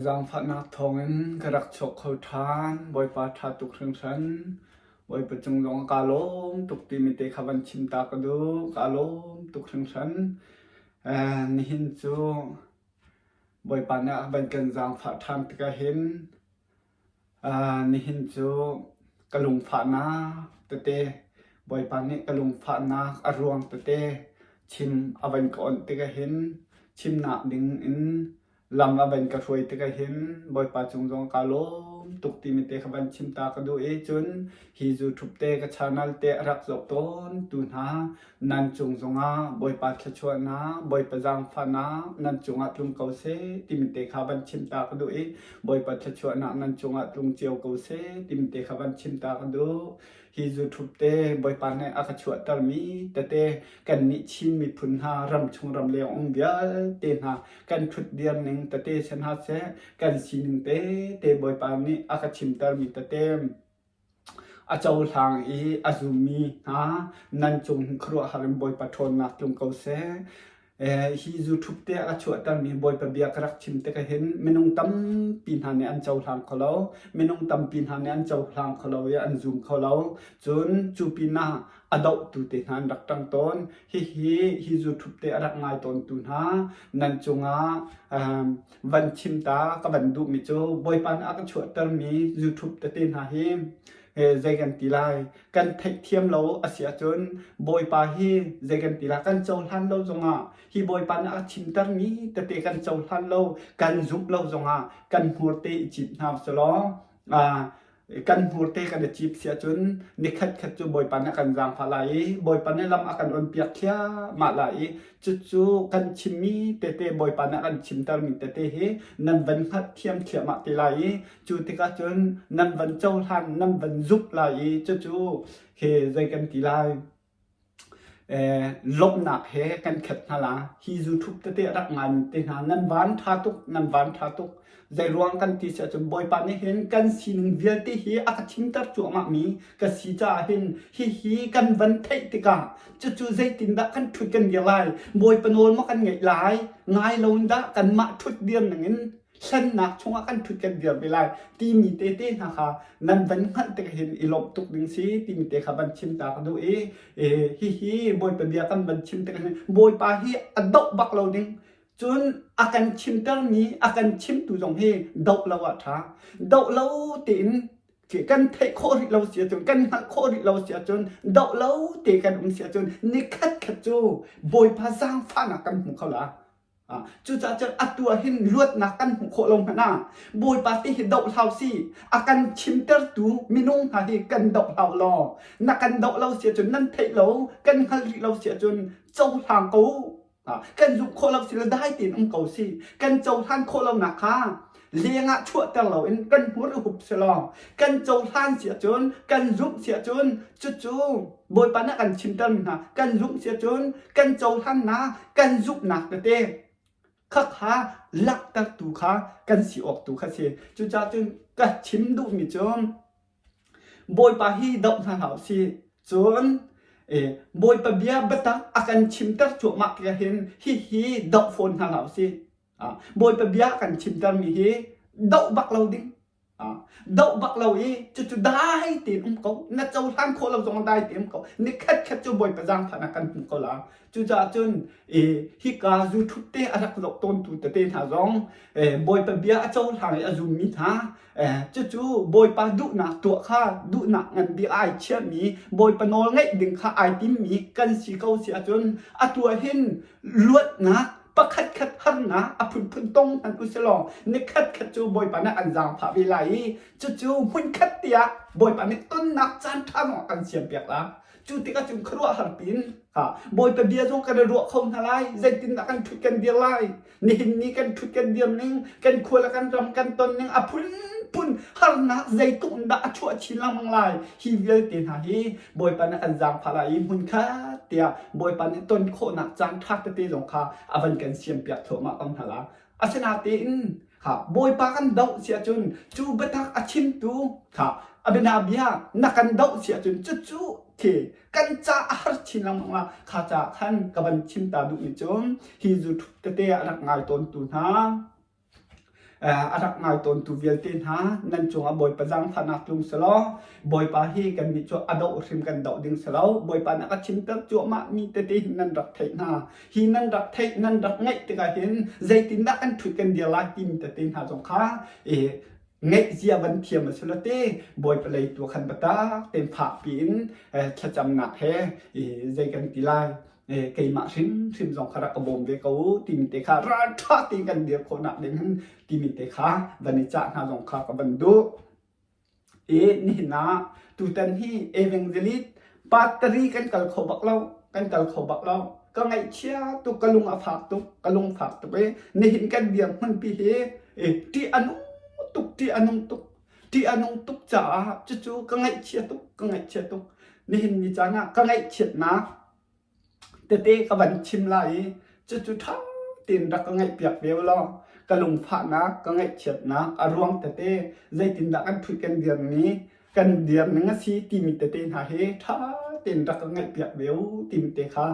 Zaangfahnak thawngin ka rak chuak kho ṭhan. Bawipa ṭha tuk hringhran. Bawipa cung zong kaa lawm tuk timi te kha van chim ta ka duh. Kaa lawm tuk hringhran. Eh, nihin cu Bawipa nih a van kan zaangfah ṭhan tikah hin ah, nihin cu ka lungfahnak tete, Bawipa nih ka lungfahnak a ruang tete chim a van ka awnh tikah hin chimnak ding in Lam a van ka hruai tik ahhin Bawipa cung zong kaa lawm tuk timi te kha van chim ta ka duh i cun hi zu ṭhupte ka chanal te a rak zoh tawn tu hna nan cung zongah Bawipa thluachuahnak, Bawipa zaangfahnak nan cungah tlung ko seh timi te kha van chim ta ka duh i Bawipa thluachuahnak nan cungah tlung cio ko seh timi te kha van chim ta ka duh. Hi YouTube te Bawipa nih a ka chuahtermi tete kannih Chin miphun hna ram chung ram leng um vialte hna kan ṭhut diar ning tete si hna seh kan sining tete Bawipa nih a ka chimtermi tete a cohlang i a zummi hna nan cung khuaruahhar in Bawipa ṭhawnnak tlung ko seh. hi zu thup te a ka chuahtermi Bawipa bia ka rak chim tik hin minung tampi hna nih an cohlang kho lo minung tampi hna nih an cohlang kho lo i an zum kho lo cun cu pinah a dohtu te hna an rak ṭang tawn hihi hi zu thup te a rak ngai tawntu hna nan cungah van chim ta ka van duhmi cu Bawipa nih a ka chuahtermi zu thup tete hna hi zei kan ti lai kan theihthiam lo a si ahcun bawipa hi zei kan ti lai kan cohlan lo zongah hi bawipa nih a chimter mi tete kan cohlan lo kan zumh lo zongah kan hmurte i cip hna u law kan hmurte kan i cip si ahcun nikhat khat cu bawipa nih a kan zaangfah lai i bawipa nih lam a kan onpiak thliahmah lai i cucu kan chimmi tete bawipa nih a kan chimter mi tete hi nan van hngalh thiam thliahmah te lai i Cu tikah cun nan van cohlan, nan van zuk lai i cucu he zei kan ti lai? Eh, lawmhnak he kan khet hna la hi zu thup tete rak ngai te hna nan van tha tuk nan van tha tuk zei ruang kan ti si ahcun bawipa nih hin kan sining vialte hi a ka thimter cuahmah mi ka si caah hin hi hi kan van theih tikah cucu zeitin dah kan thut kan dir lai bawipa nawl ma kan ngaih lai ngai lo in dah kan mah thut dir ningin hlennak chungah kan ṭhut kan dirpi lai timi tete hna kha nan van hngalh tik hin i lawmh tuk ding si timi te kha van chim ta ka duh i hihi bawipa bia kan van chim tik hin bawipa hi a doh bak lo ding cun a kan chimtermi a kan chimtu zong hi doh lo a ṭha doh lo tein kan theih khawh rih lo si ahcun kan hngalh khawh rih lo si ahcun doh lo te kan um si ahcun ni khatkhat cu bawipa zaangfahnak kan hmu kho la Cucaah cun atu ah hin luatnak kan hmuh khawh lo hmanh ah Bawipa ti hi doh hlau si a kan chimtertu minung hna hi kan doh hlau law na kan doh lo si ahcun nan theih lo kan hngal rih lo si ahcun cohlang ko kan zumh khawh lo si le dai tein um ko si kan cohlan khawh lonak kha leng ah chuahter loin kan hmur i hup selaw kan cohlan si ahcun kan zumh si ahcun cucu Bawipa nih a kan chimtermi hna kan zumh si ahcun kan cohlannak kan zumhnak tete khakha laktertu kha kan si awk tu kha si cucaah cun ka chim duhmi cu Bawipa hi doh hna hlah si cun Bawipa bia biatak a kan chimter cuahmah ti hin hihi doh fawn hna hlah u si Bawipa bia kan chimtermi hi doh bak lo ding. Doh bak lo i cucu dai tein um ko. Na cohlan khawh lo zong dai tein um ko. Ni khat khat cu Bawipa zaangfan ah kan hmu ko la. Cucaah cun hika zu ṭhut te a rak zoh tawntu tete hna zong Bawipa bia a cohlang i a zummi hna cucu Bawipa duhnak tuah kha duhnak nganbik ai chiahmi Bawipa nawl ngaih ding kha ai timmi kan si ko si ahcun atu hin luatnak pakhat khat harnak a phunphun tong hmanh usilaw nikhat khat cu Bawipa nih an zaangfah ve lai i cucu hmunkhat tiah Bawipa nih tonnak caan ṭha zong kan siampiak lai cu tikah cun khuaruahhar pin ha Bawipa bia zong kan i ruah kho hna lai zeitindah kan ṭhut kan dir lai Nihin ni kan ṭhut kan diam ning, kan khual kan ram kan ton ning a phunphun harnak zeitluk in dah a chuah chin lengmang lai. Hi vialte hna hi Bawipa nih an zaangfah lai i hmun khat tiah Bawipa nih ton khawhnak caan ṭha tete zong kha a van kan siampiak thluahmah ko hna la. Asinatein ha Bawipa kan doh si ahcun cu biatak a chimtu ha a bianabia na kan doh si ahcun cucu thi kan caar chin lengmang ah kha caah khan ka van chim ta duhmi cu hi zu thup tete a rak ngai tawntu hna a rak ngai tawntu vialte hna nan cungah bawipa zaangfahnak tlung selaw bawipa hi kan nih cu a doh hrim kan doh ding selaw bawipa na ka chimter cuahmah mi tete hin nan rak theih hna hi nan rak theih nan rak ngaih tikah hin zeitindah kan thut kan dir lai timi tete hna zong kha ngeihzia van thiam a si lo ti bawipa lei tu khan biatak tein fakpi in thlacamnak he zei kan ti lai keimah hrimhrim zong kha rak ka bawm ve ko timi te kha ralṭha tein kan dir khawhnak ding hin timi te kha van i cah hna zong kha ka van duh i nihin ah tutan hi evangelist Battery kan kal kho bak lo. Kan kal kho bak lo. Ka ngaihchia tuk. Ka lung a fak tuk. Ka lung fak tuk i nihin kan dirhmun pi hi i ṭih a nung tuk. Ṭih a nung tuk. Ṭih a nung tuk caah cucu ka ngaihchia tuk. Ka ngaihchia tuk. Nihin ni caan ah ka ngaihchiatnak Tete ka van chim lai i cucu ṭha tein rak ka ngaihpiak ve u law ka lungfahnak, ka ngaihchiatnak a ruang tete zeitindah kan ṭhut kan dirmi kan dirning a si timi tete hna hi ṭha tein rak ka ngaihpiak ve u timi te kha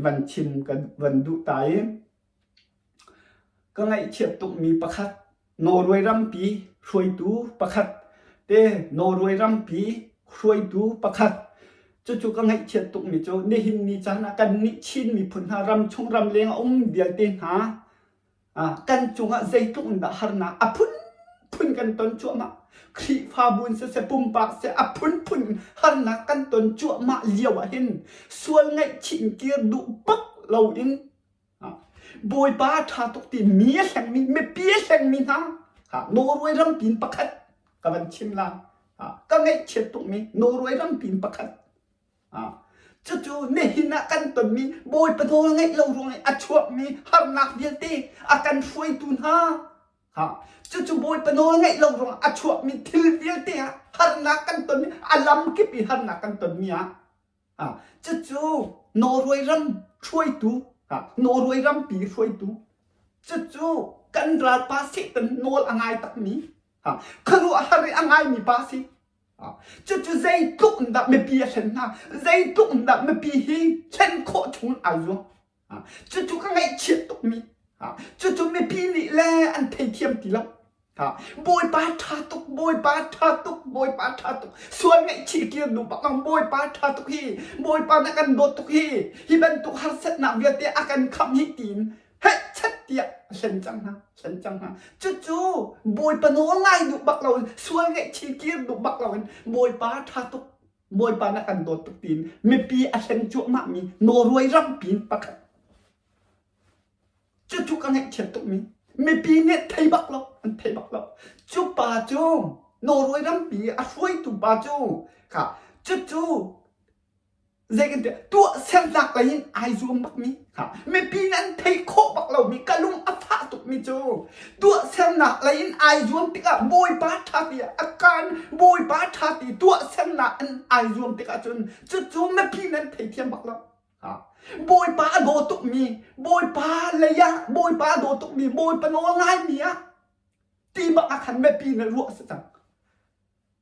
van chim kan van duh ta i Ka ngaihthiam tukmi pakhat, Norway rampi hruaitu pakhat te Norway rampi hruaitu pakhat. Cucu ka ngaihchiat tukmi cu nihin ni caan ah kannih Chin miphun hna ramchung ramleng a um vialte hna ah kan cungah zeitluk in dah harnak a phunphun kan ton cuahmah. Khrihfabu in siseh, pumpak siseh a phunphun in harnak kan ton cuahmah lio ahhin sual ngaihchih in kir duh bak loin Bawipa ṭha tuk ti mi a hlengmi, mipi a hlengmi hna ha Norway rampi in pakhat ka van chim la. Ha ka ngaihchiat tukmi Norway rampi in pakhat. Ha cucu nihin ah kan tonmi Bawipa nawl ngeih lo ruangin a chuakmi harnak vialte a kan hruaitu hna ha cucu Bawipa nawl ngeih lo ruangah a chuakmi thil vialte ah harnak kan tonmi a lam kip i harnak kan tonmi ah Cucu Norway ram hruaitu, Norway rampi hruaitu. Cucu kan ralpa Satan nawl a ngai takmi, khuaruah a har i a ngaimi pa a si. Cucu zeitluk in dah mipi a thlen hna, zeitluk in dah mipi hi thlen khawh chung in ai zuam. Cucu ka ngaihchiat tukmi cucu mipi nih le an theithiam ti lo. Bawipa ṭha tuk, Bawipa ṭha tuk, Bawipa ṭha tuk. Sual ngaihchih tir duh bak ang. Bawipa ṭha tuk hi, Bawipa na kan dawt tuk hi, hi bantuk harsatnak vialte a kan khamh hi tiin hehchat tiah a hlen cang hna, hlen cang hna. Cucu Bawipa nawl ngai duh bak lo in, sual ngaihchih tir duh bak lo in, Bawipa ṭha tuk, Bawipa na kan dawt tuk tiin mipi a hleng cuahmah mi nawruai rampi in pakhat cu cu ka ngaihchiat tuk mi mipi nih thei bak lo an thei bak lo cu pa cu nawruai rampi a hruaitu pa cu ka cu cu zei kan tuah tuah sernak lei in ai zuam bak mi mipi in an theih khawh bak lomi ka lung a fah tukmi cu tuahsernak lei in ai zuam tikah bawipa ṭha ti a kan bawipa ṭha ti tuahsernak in ai zuam tikah cun cucu mipi in an theithiam bak lo bawipa a daw tukmi bawipa lei ah bawipa a daw tukmi bawipa nawl ngaimi ah ti bak ah khan mipi in ruah a si cang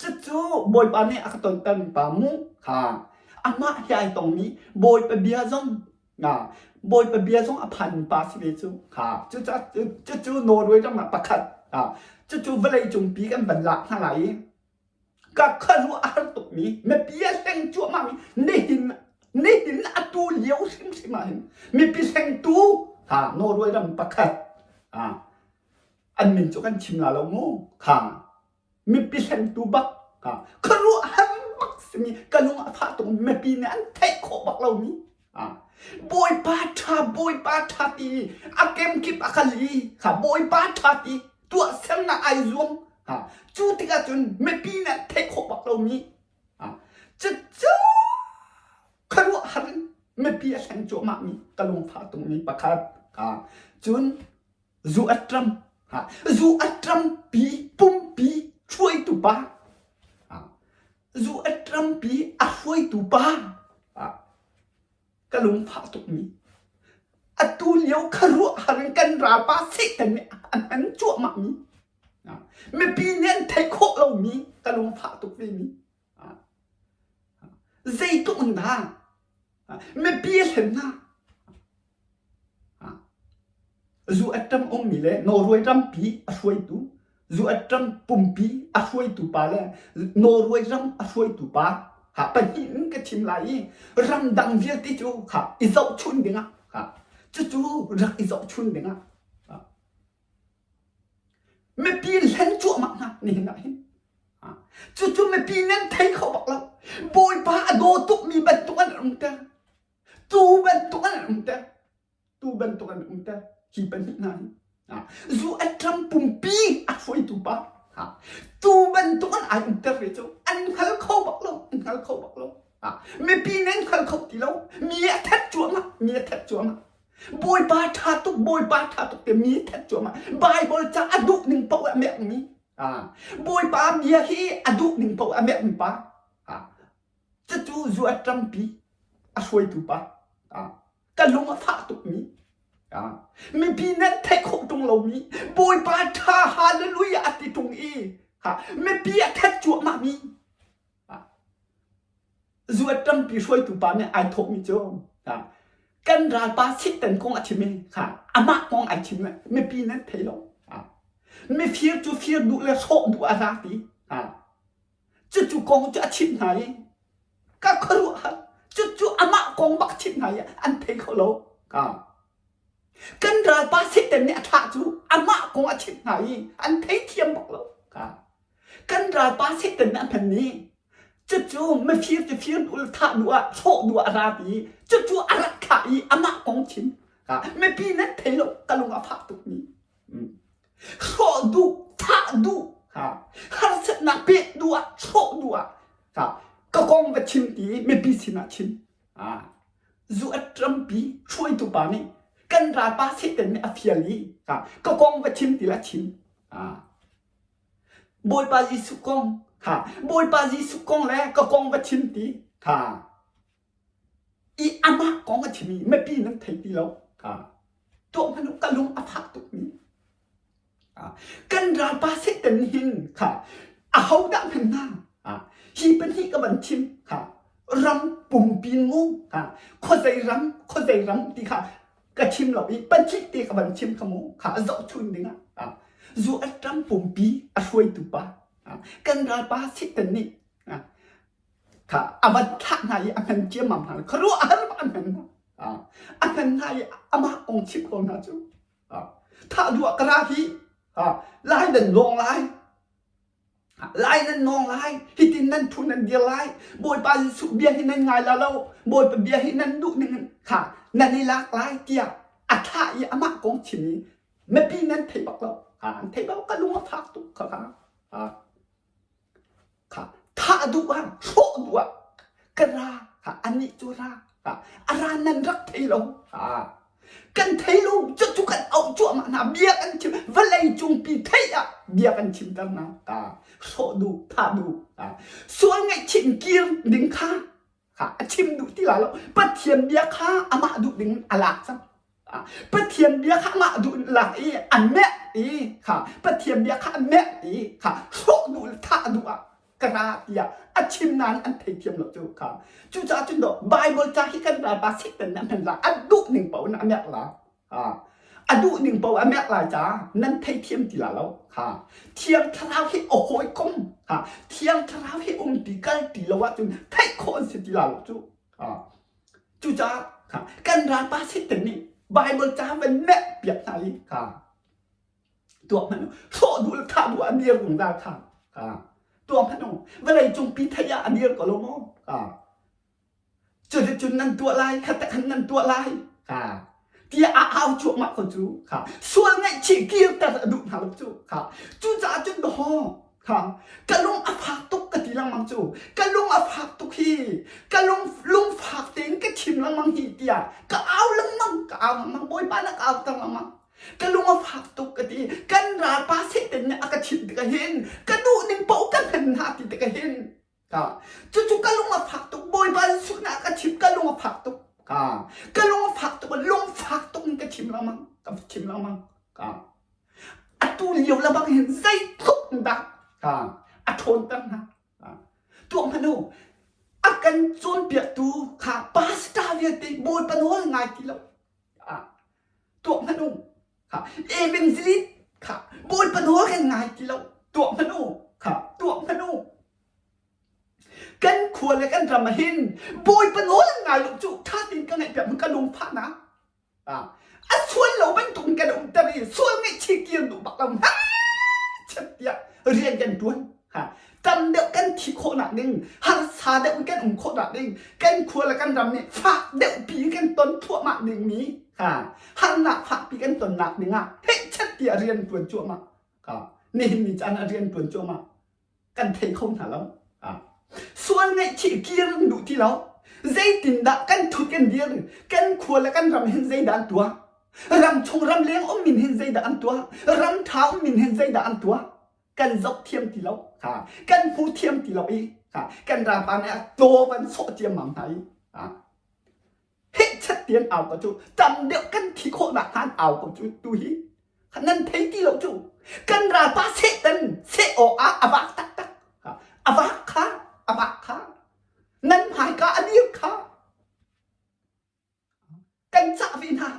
Cucu Bawipa nih a ka tontermi pa mu kha amah he ai tongmi Bawipa bia zong nga Bawipa bia zong a phanmi pa si ve cu kha cucu cucu Norway ram ah pakhat a cucu vawleicung pi kan van lak hna lai i ka khuaruah a har tukmi mipi a hleng cuahmah mi nihin nihin atu lio hrimhrim ah hin mipi hlengtu ha Norway ram pakhat a an min cu kan chim la lo mu kha Mipi hlentu bak ah khuaruahhar bak simi ka lung a fah tuk mipi nih an theih khawh bak lomi Bawipa ṭha Bawipa ṭha ti a kemkip a kal i Bawipa ṭha ti tuahsernak ai zuam cu tikah cun mipi nih an theih khawh bak lomi cucu khuaruahhar in mipi a hleng cuahmahmi ka lungfah tungmi pakhat cun zu a ṭam ha zu a ṭampi pumpi hruaitu pa zu a ṭampi a hruaitu pa ka lungfah tukmi atu lio kha ruahhar in kan ra pa Satan nih an han cuahmahmi mipi nih an theih khawh lomi ka lungfah tuk vemi Zei ka un dah? Mipi hlen na. Zu atang ummi le Norway rampi a hruaitu, zu atang pumpi a hruaitu pa le Norway ram a hruaitu pa ha pahnih in ka thim lai i ramdang vialte cu ha i zohchun dingah ha cucu rak i zohchun dingah Mipi hlen cuahmah hna hnenah hin. Cucu mipi nih an thei kho bak lo. Bawipa a daw tukmi bantuk an um te. Tuu bantuk an um te. Tuu bantuk an um te. Hi pahnih hna hi. Zu atlam pumpi a hruaitu pa. Tuu bantuk an ai umter ve cu. An hngal kho bak lo. An hngal kho bak lo. Mipi nih an hngal kho ti lo. Mi a thet cuahmah. Mi a thet cuahmah. Bawipa ṭha tuk, Bawipa ṭha tuk ti mi that cuahmah. Bible ca a duh ning paoh a mek mi. Ah, Bawipa bia hi a duh ning paoh a mek mi pa. Ah, cucu zu a ṭampi a hruaitu pa. Ah, ka lung a fah tuk mi. Ah, mipi nan theih khawh ṭung lo mi. Bawipa ṭha hallelujah a ti ṭung i, ha, mipi a that cuahmah mi. zu a ṭampi hruaitu pa nih ai thawhmi cu kan ralpa sihten kong a chim i amah kong ai chim mipi nan thei lo mifir cu fir duh le hrawh duh a hla ti cucu kong cu a chimh hna i ka khuaruahhar cucu amah kong bak chimh hna i an thei kho lo kan ralpa sihten nih a thlah cu amah kong a chimh hna i an thei thiam bak lo Kan ralpa second a hman i cucu mifir cu firnul thah nu ah sawh nu ah a ra i cucu a rat khah i amah kong chin mipi nan thei lo ka lung a fah tukmi hrawh duh thah duh harsatnak pek nu ah hrawh nu ah ka kong va chim ti mipi sinah chim zu a ṭampi hruaitu pa nih kan ralpa second nih a fial i ka kong va chim ti la chim Bawipa Jesuh kong kha Bawipa Jesuh kong le ka kong va chim ti kha i amah kong a chimi mipi nan thei ti lo kha tuah hmanh u ka lung a fak tukmi kan ralpa Satan hin kha ahodah hmanh hna hi pahnih ka van chim kha ram pumpi ngu kha khuazei ram khuazei ram ti kha ka chim lo i pacih te ka van chim kha mu kha a zoh chun ding ah zu a ṭam pumpi a hruaitu pa kan ral pa sitten nih kha a van thlah hna i a ngan ciammam hna kha ruah har a ngan a ngan hna i amah kong chim ko hna cu thah duah ka ra hi lai dan lawng lai lai nan nawng lai hitin nan phun nan dir lai bawipa jesuh bia hi nan ngai la lo bawipa bia hi nan duh ning kha nan i lak lai tiah a tha i amah kong chim i mipi nan thei bak lo an thei bak ka lung a fak tuk kha kha kha thah duh ah hrawh duh ah ka ra anih cu ra a ra nan rak thei lo kan thei lo cu cu kan auh cuahmah hna bia kan chim vawlei cung pi theih ah bia kan chim ter hna ta hrawh duh thah duh sual ngaihchin kir ding kha kha a chim duh ti la lo pathian bia kha amah duh ding a lak cang pathian bia kha amah duh in lak i an meh i kha pathian bia kha an meh i kha hrawh duh le thah duh ah ka ra tiah a chim nan an thei thiam lo cu kha cucaah cun do bible ca hi kan ral ba sik tan nan la a duh ning po na amek la ha a duh ning po amek lai ca nan thei thiam ti la lo ha thiang thlarau hi a hoi kom ha thiang thlarau hi um ti kal ti lo ah cun thei khon si ti la lo cu ha cucaah ha kan ral pa sik tan nih bible ca van mek piak hna i ha tuak hmanu hrawh dul tha bu anir gung da tha ka tuak hmanu vale cung pi thaya anir ko lo mo ka chule chun nan tua lai khata khan nan tua lai ka tia a au chu ma ko chu ka sual ngai chi kir tar adu na lo chu ka chu cha chun ho ka ka lung a phak tuk ka ti lang mang chu ka lung a phak tuk hi ka lung lung phak ten ka chim lang mang hi tia ka au lang mang ka au mang boy pa na ka au tang lang mang ka lung a fak tuk ka ti kan ralpa satan nih a ka thit tik hin ka duh ning paoh ka hman hna ti tik hin ka cucu ka lung a fak tuk bawipa jesuh nih a ka thim ka lung a fak tuk ka ka lung a fak tuk lung fak tuk in ka thim lengmang ka thim lengmang ka atu lio la bang hin zeitluk dah ka a ṭhawn ter hna tuang hmanu a kan cawnpiaktu kha pastor vialte bawi panol ngai ti lo tuah hmanh u kha evangelist kha bawipa nawl kan ngai ti lo tuah hmanh u kha tuah hmanh u kan khua le kan ram ah hin bawipa nawl an ngai lo cu ṭha tein ka ngaih piak ka lungfahnak a sual lo bantuk in kan umter i sual ngaihchih kir duh bak lo chat tiah rian kan ṭuan tam deuh kan thi khawhnak ding harsa deuh in kan um khawhnak ding kan khual le kan ram nih fak deuh pi in kan ton thluahmah dingmi ha harnak fakpi kan tonnak dingah theihchat ti a rian tuan cuahmah ha nihin ni caan a rian tuan cuahmah kan thei kho hna lo ha sual ngaihchih kir kan duh ti lo zeitindah kan thut kan dir kan khual le kan ram hin zeidah an tuah ram chung ram leng um min hin zeidah an tuah ram tha um min hin zeidah an tuah kan zok thiam ti lo ha kan hmu thiam ti lo i ha kan rapa nih a taw van sawh ciam mam hna i ha he chat tiang au ko cu tam deuh kan thi khawh nak han au ko cu tu hi nan thei ti lo cu kan rapa satan se awk ah a vak tak tak ha a vak kha a vak kha nan hmaika a dir kha Kan cah ve hna.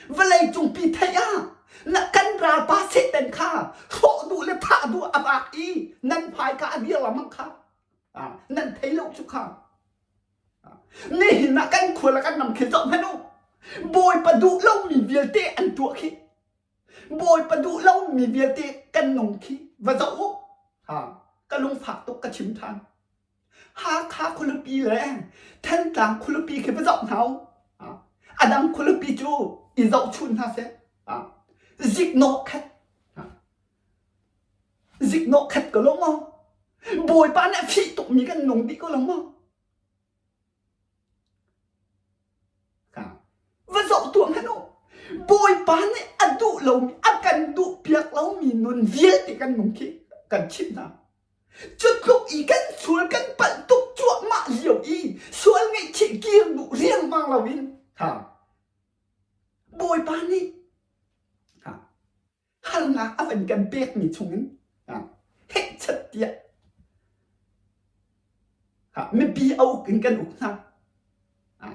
Vawlei cungpi theih ah na kan ralpa Satan kha hrawh duh le thah duh a bak i nan hmaika a dir lamang kha nan thei lo cu kha nihin ah kan khual ah kan ram khi zoh hmanh u bawipa duh lomi vialte an tuah khi bawipa duh lomi vialte kan nung khi va zoh u ka lungfak tuk ka chim than Hakha khualupi le Thantlang khualupi khi va zoh hna u. A dang khualupi cu i zohchunh hna seh. Ziknawh khat. Ziknawh khat ko lo maw. Bawipa nih a fih tukmi kan nung dih ko lo maw. Va zoh tuah hmanh u. Bawipa nih a duh lomi, a kan duh piak lomi nun vialte kan nung khi kan chimh hna. Cu tluk i kan sual kan palh tuk cuahmah lio i sual ngaihchih kir duh riangmang lo in ha Bawipa nih ha harnak a van kan pekmi chungin ha heihchat tiah ha mipi a uk in kan uk hna ha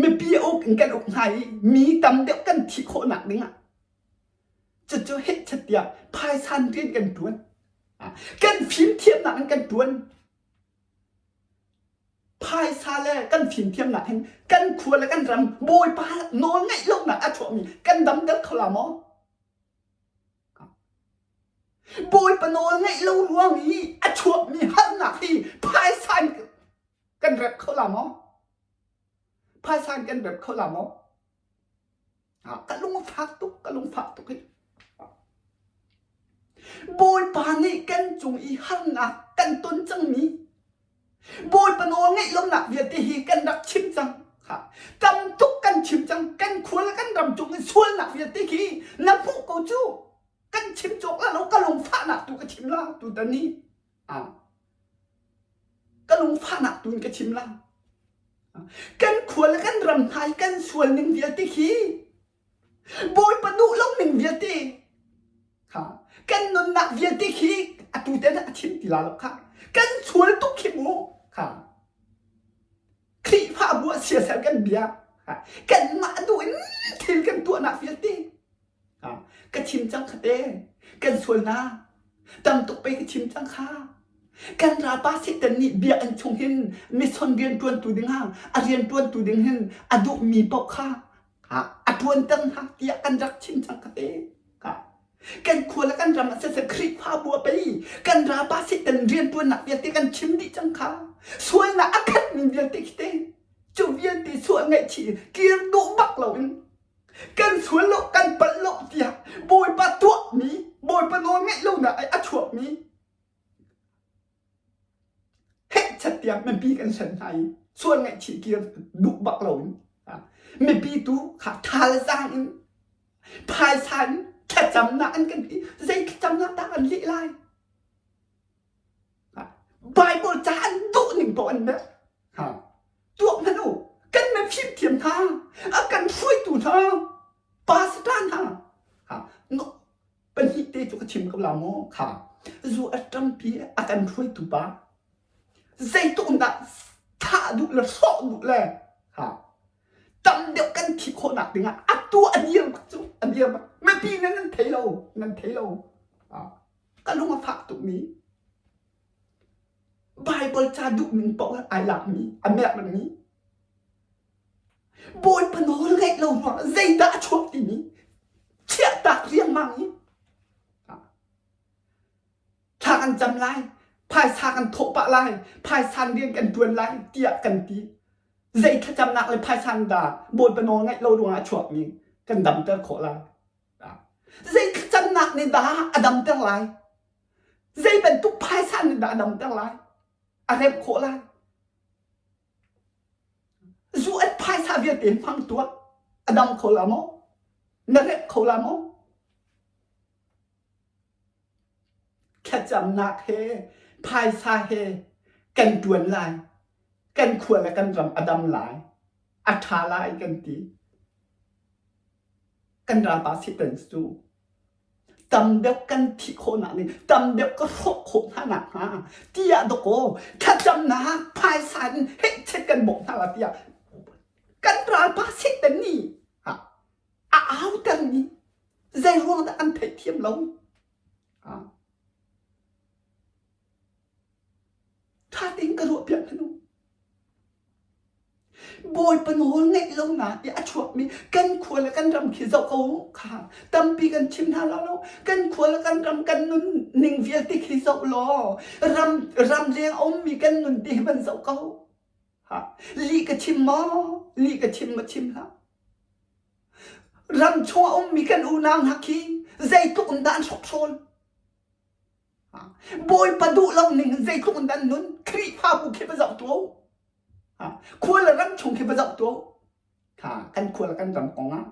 mipi a uk in kan uk hna i mi tam deuh kan thih khawhnak dingah Cucu hehchat tiah phaisan tein kan ṭuan. Kan fimthiamnak in kan ṭuan. Phaisa le kan fimthiamnak hin kan khua le kan ram Bawipa nawl ngaih lonak a chuahmi kan damter kho la maw? Bawipa nawl ngaih lo ruang i a chuahmi harnak hi phaisa in kan rep kho la maw? Phaisa in kan rep kho la maw? ka lungfak tuk ka lungfah tuk hi Bawipa nih kan cung i harnak kan ton cangmi Bawipa nawl ngeih lomnak vialte hi kan rak chim cang tam tuk kan chim cang kan khual kan ram cung in sualnak vialte khi na hmuh ko cu kan chim cawk la lo ka lungfahnak tu ka chim la tu ta ni ka lungfahnak tu in ka chim la. Kan khual le kan ram hna i kan sual ning vialte khi Bawipa duh lo ning vialte ha kan nunnak vialte khi atu te na a thim ti la lo kha kan sual tuk khi mu ha Khrihfa bu a sia ser kan bia kan mah duh in thil kan tuahnak vialte Ka chim cang kha kan sual hna. Tam tuk pei ka chim cang kha. Kan ralpa Satan nih bia an chung hin missionrian ṭuantu dingah a rian ṭuantu ding hin a duhmi paoh kha a ṭuan cang hna tiah kan rak chim cang ka te. Kan khual ah kan ram ah siseh Khrihfabu ah pei kan ralpa Satan rianṭuannak vialte kan chim dih cang kha. Sualnak a khatmi vialte khi te cu vialte sual ngaihchih kir duh bak loin Kan sual lo, kan palh lo tiah Bawipa tuahmi, Bawipa nawlngaih lonak a chuahmi hehchat tiang mipi kan sen hna i sual ngaihchih kir duh bak loin mipi tu kha thalzaang in phaisa in thlacamnak an kan ti. Zei thlacamnak dah an lih lai? Bible ca an dawh ning poh an meh. Tuak hmanh u, kan meh fimthiam hna, a kan hruaitu hna, pastor hna. No, pahnih te cu ka chim ko la maw, kha. Zu a ṭampi a kan hruaitu pa. Zeituk dah thah duh le hrawh duh le, ha. Tam deuh kan thi khawh nak dingah a tu a dir cu, a dir. Mipi nan an thei lo, nan thei lo. ka lung a fak tukmi Bible ca duh min paoh ai lakmi a merhmi Bawipa nawl ngaih lo ruangah zeidah a chuah timi chiahtak riangmang i thla kan cam lai phaisa kan thawh pah lai phaisan rian kan ṭuan lai tiah kan ti zei thlacamnak le phaisa dah Bawipa nawl ngaih lo ruangah a chuakmi kan damter khawh lai Zei thlacamnak nih dah a damter lai? Zei bantuk phaisa nih dah a damter lai? A remh khawh lai? Zu at phaisa vialte hmang tuah. A dam kho la maw? Na remh kho la maw? Thlacamnak he, phaisa he kan tuan lai. Kan khua le kan ram a dam lai. A tha lai kan ti. kan ralpa Satan cu tam deuh kan thih khawhnak ning tam deuh ka hrawh khawh hna nakhnga tiah dawkaw thlacamnak phaisa in heihchet kan bawmh hna la tiah kan ralpa Satan nih a autermi zeiruang dah an theihthiam lo? Ṭha tein ka ruahpiak hmanung. Bawipa nawl ngeih lo na tiah a chuahmi kan khua le kan ram khi zoh ko kha tampi kan chim hna law lo kan khua le kan ram kan nun ning vialte khi zoh law ram ramleng a ummi kan nun te hi van zoh ko ha li ka chim maw li ka chim ma chim hlah ram chung a ummi kan unang hna khi zeitluk in dah an hrokhrol Bawipa duh lo ning in zeitluk in an nun Khrihfabu khi va zoh tuah khual le ram chung khi va zoh tuah kan khual kan ram kong ah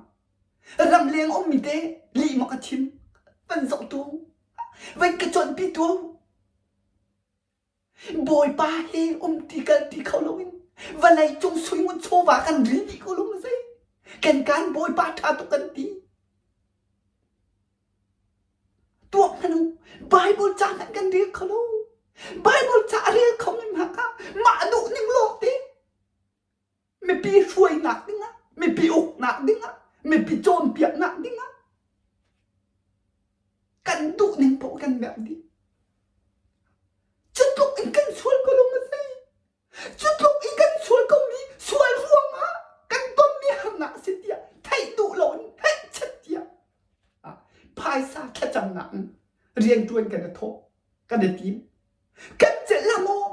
ram leng ummi te lihmak a thim van zoh tuah vai ka cuanpi tuah Bawipa he um ti kan ti kho loin vawlei cung sui ngun chawva kan ril dih ko lung zei kan kan Bawipa ṭha tuk kan ti tuak hmanu Bible ca hmanh kan ril kho lo Bible ca a rel kho ngem haka mah duh ning lawk te mipi hruainak dingah, mipi uknak dingah, mipi cawnpiaknak dingah kan duh ning paoh kan merh dih. Cu tluk in kan sual ko lo ma sei. Cu tluk in kan sual komi sual ruangah kan tonmi harnak a si tiah theih duh lo in theih chet tiah ah, phaisa thlacamnak in riantuan kan i thawh, kan i tim. Kan celh la maw?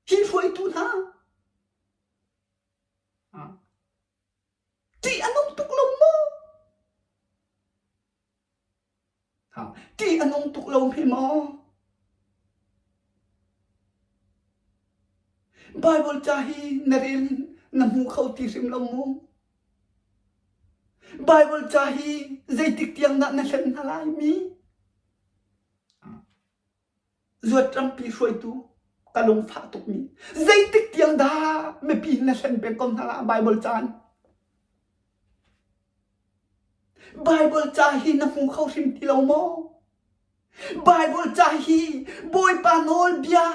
hi hruaitu hna ṭih an um tuk lo maw ṭih an um tuk lo mi maw Bible ca hi na rel in na hmu kho ti hrim lo mu Bible ca hi zeitik tiang dah na hlen hna lai mi Zuatrampi hruaitu ka lungfah tukmi zeitik tiang dah mipi na hlen peng ko hna ah Baibal caan? Baibal ca hi na hmu kho hrim ti lo maw? Baibal ca hi Bawipa nawlbia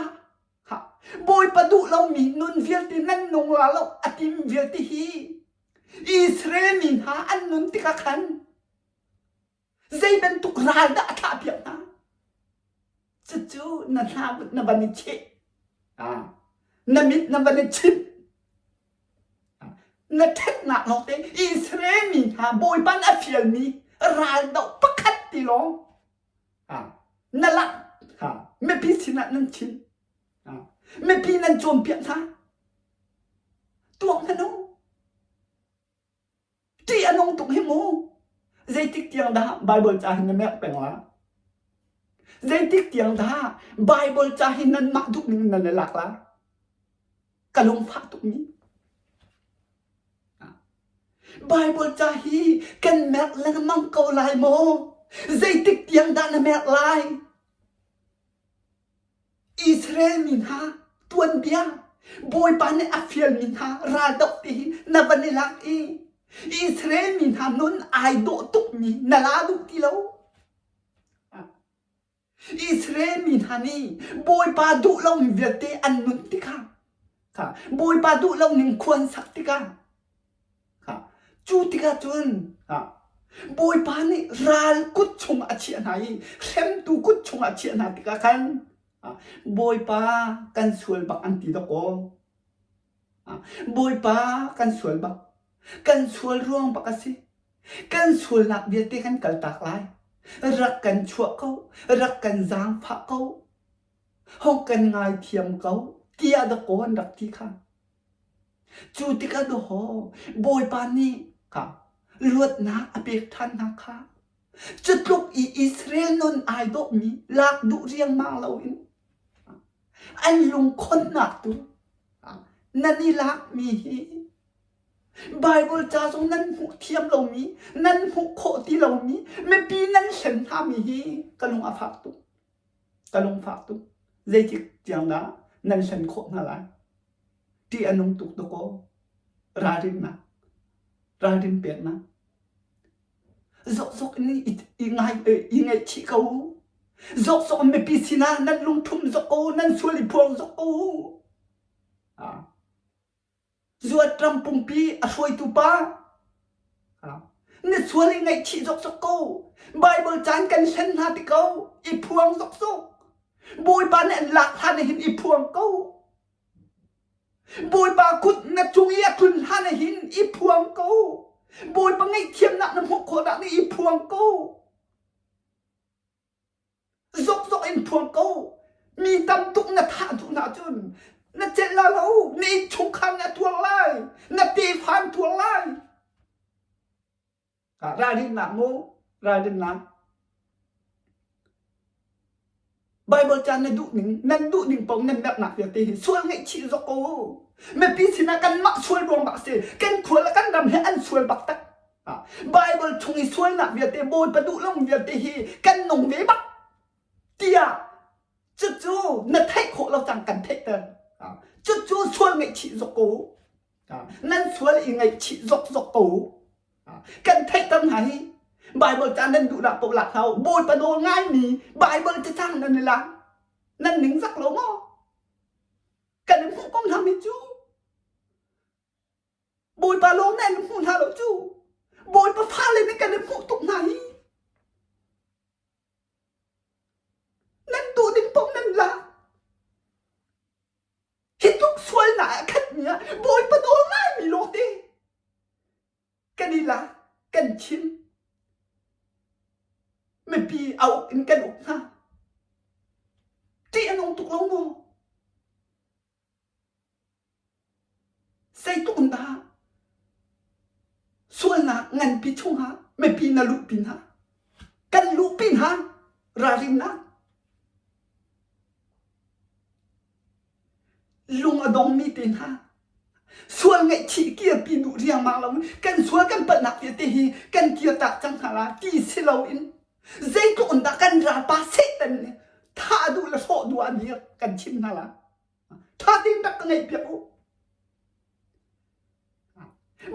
ha, Bawipa duh lomi nun vialte nan nung la lo a tim vialte hi Israel mi hna an nun tikah khan Zei bantuk ral dah a thlahpiak hna? Cucu na hla na van i cheh. Ah, na mit na van i chinh. Ah, na ṭhatnak lawngte Israel mi hna Bawipa a fialmi raldoh pakhat ti lawng ah, na lak kha mipi sinah nan chim. Ah, mipi nan cawnpiak hna. Tuak hmanh u. Ṭih a nung tuk hi mu. Zeitik tiang dah Bible ca hi na merh peng la? Zeitik tiang dah Bible ca hi nanmah duh ning nan i lak la? Ka lungfah tukmi. Bible ca hi kan merh lengmang ko lai maw? Zeitik tiang dah na merh lai? Israel mi hna tuanbia, Bawipa nih a fialmi hna raldoh ti hi na van i lak i Israel mi hna nun ai dawh tukmi na la duh ti lo. Israel mi hna nih Bawipa duh lomi vialte an nun tikah, Bawipa duh loning khuan sak tikah, Cu tikah cun Bawipa nih ral kut chung a chiah hna i hremtu kut chung a chiah hna tikah khan Bawipa kan sual bak an ti dawkaw. Bawipa kan sual bak. Kan sual ruang bak a si. Kan sualnak vialte kan kaltak lai. Rak kan chuah ko. Rak kan zaangfah ko. Hawk kan ngaithiam ko. Tiah dawkaw an rak ti kha. Cu tik ah dawh Bawipa nih ka luatnak a pek ṭhan hna kha cutluk i Israel nun ai dawhmi lak duh riangmang loin an lungkhonnak tu nan i lakmi hi Baibal ca zong nan hmuh thiam lomi, nan hmuh khawh ti lomi, mipi nan hlen hngami hi ka lung a fak tuk. ka lung fak tuk. Zeitik tiang dah nan hlen khawh hna lai? Ṭih a nung tuk dawkaw. Ralrinnak. Ralrin peknak. Zokzok in i, i, ngai, i ngaihchih ko. Zokzok mipi sinah nan lungthum zok ko, nan sual i phuang zok ko. Ah. Zuatram pumpi a hruaitu pa na sual i ngaihchih zokzok ko. Baibal caan kan hlen hna ti ko. I phuang zokzok. Bawipa nih an lak hlan ah hin i phuang ko. Bawipa kut na cung i a tlun hlan ah hin i phuang ko. Bawipa ngaihthiamnak na hmuh khawhnak nih i phuang ko. Zokzok in phuang ko. Mi tam tuk na thah duh hna cun na celh lai lo. Na innchungkhar nih a tuar lai. Na tefa an tuar lai. Ah, ralrinnak mu, ralrinnak. Bible caan na duh ning, nan duh ning paoh nan merhnak vialte hi sual ngaihchih zok ko. Mipi sinah kanmah sual ruang dah a si. Kan khual le kan ram he an sual bak tak. Bible chung i sualnak vialte Bawipa duhlomi vialte hi kan nung ve bak tiah cucu na theih khawh lo cang kan theih ter cucu sual ngaihchih zok ko nan sual i ngaihchih zok zok ko kan theih ter hna hi Bible ca nan duhnak paoh lak hau Bawipa nawl ngaimi Bible ca cang nan i lang nan ning zak lo maw kan i hmuh ko hna mi cu Bawipa lawng nih an hmu hna lo cu. Bawipa fale nih kan in hmuh tuk hna hi. Nan duh ning paoh nan la. Hi tluk sualnak a khatmi ah Bawipa nawl ngaimi lawng te kan i la, kan chim. Mipi a uk in kan uk hna. Ṭih a nung tuk lo maw? Zeitlun dah sualnak nganpi chungah mipi na luh pin hna? Kan luh pin ha ralrinnak. Lung a dongmi te hna. Sual ngaihchih kirpi duh riangmang lo. Kan sual kan palhnak vialte hi kan kir tak cang hna la ti si loin Zeitluh in dah kan ralpa Satan nih thah duh le hrawh duh an hi kan chim hna la. Tha tein rak ka ngaih piak u.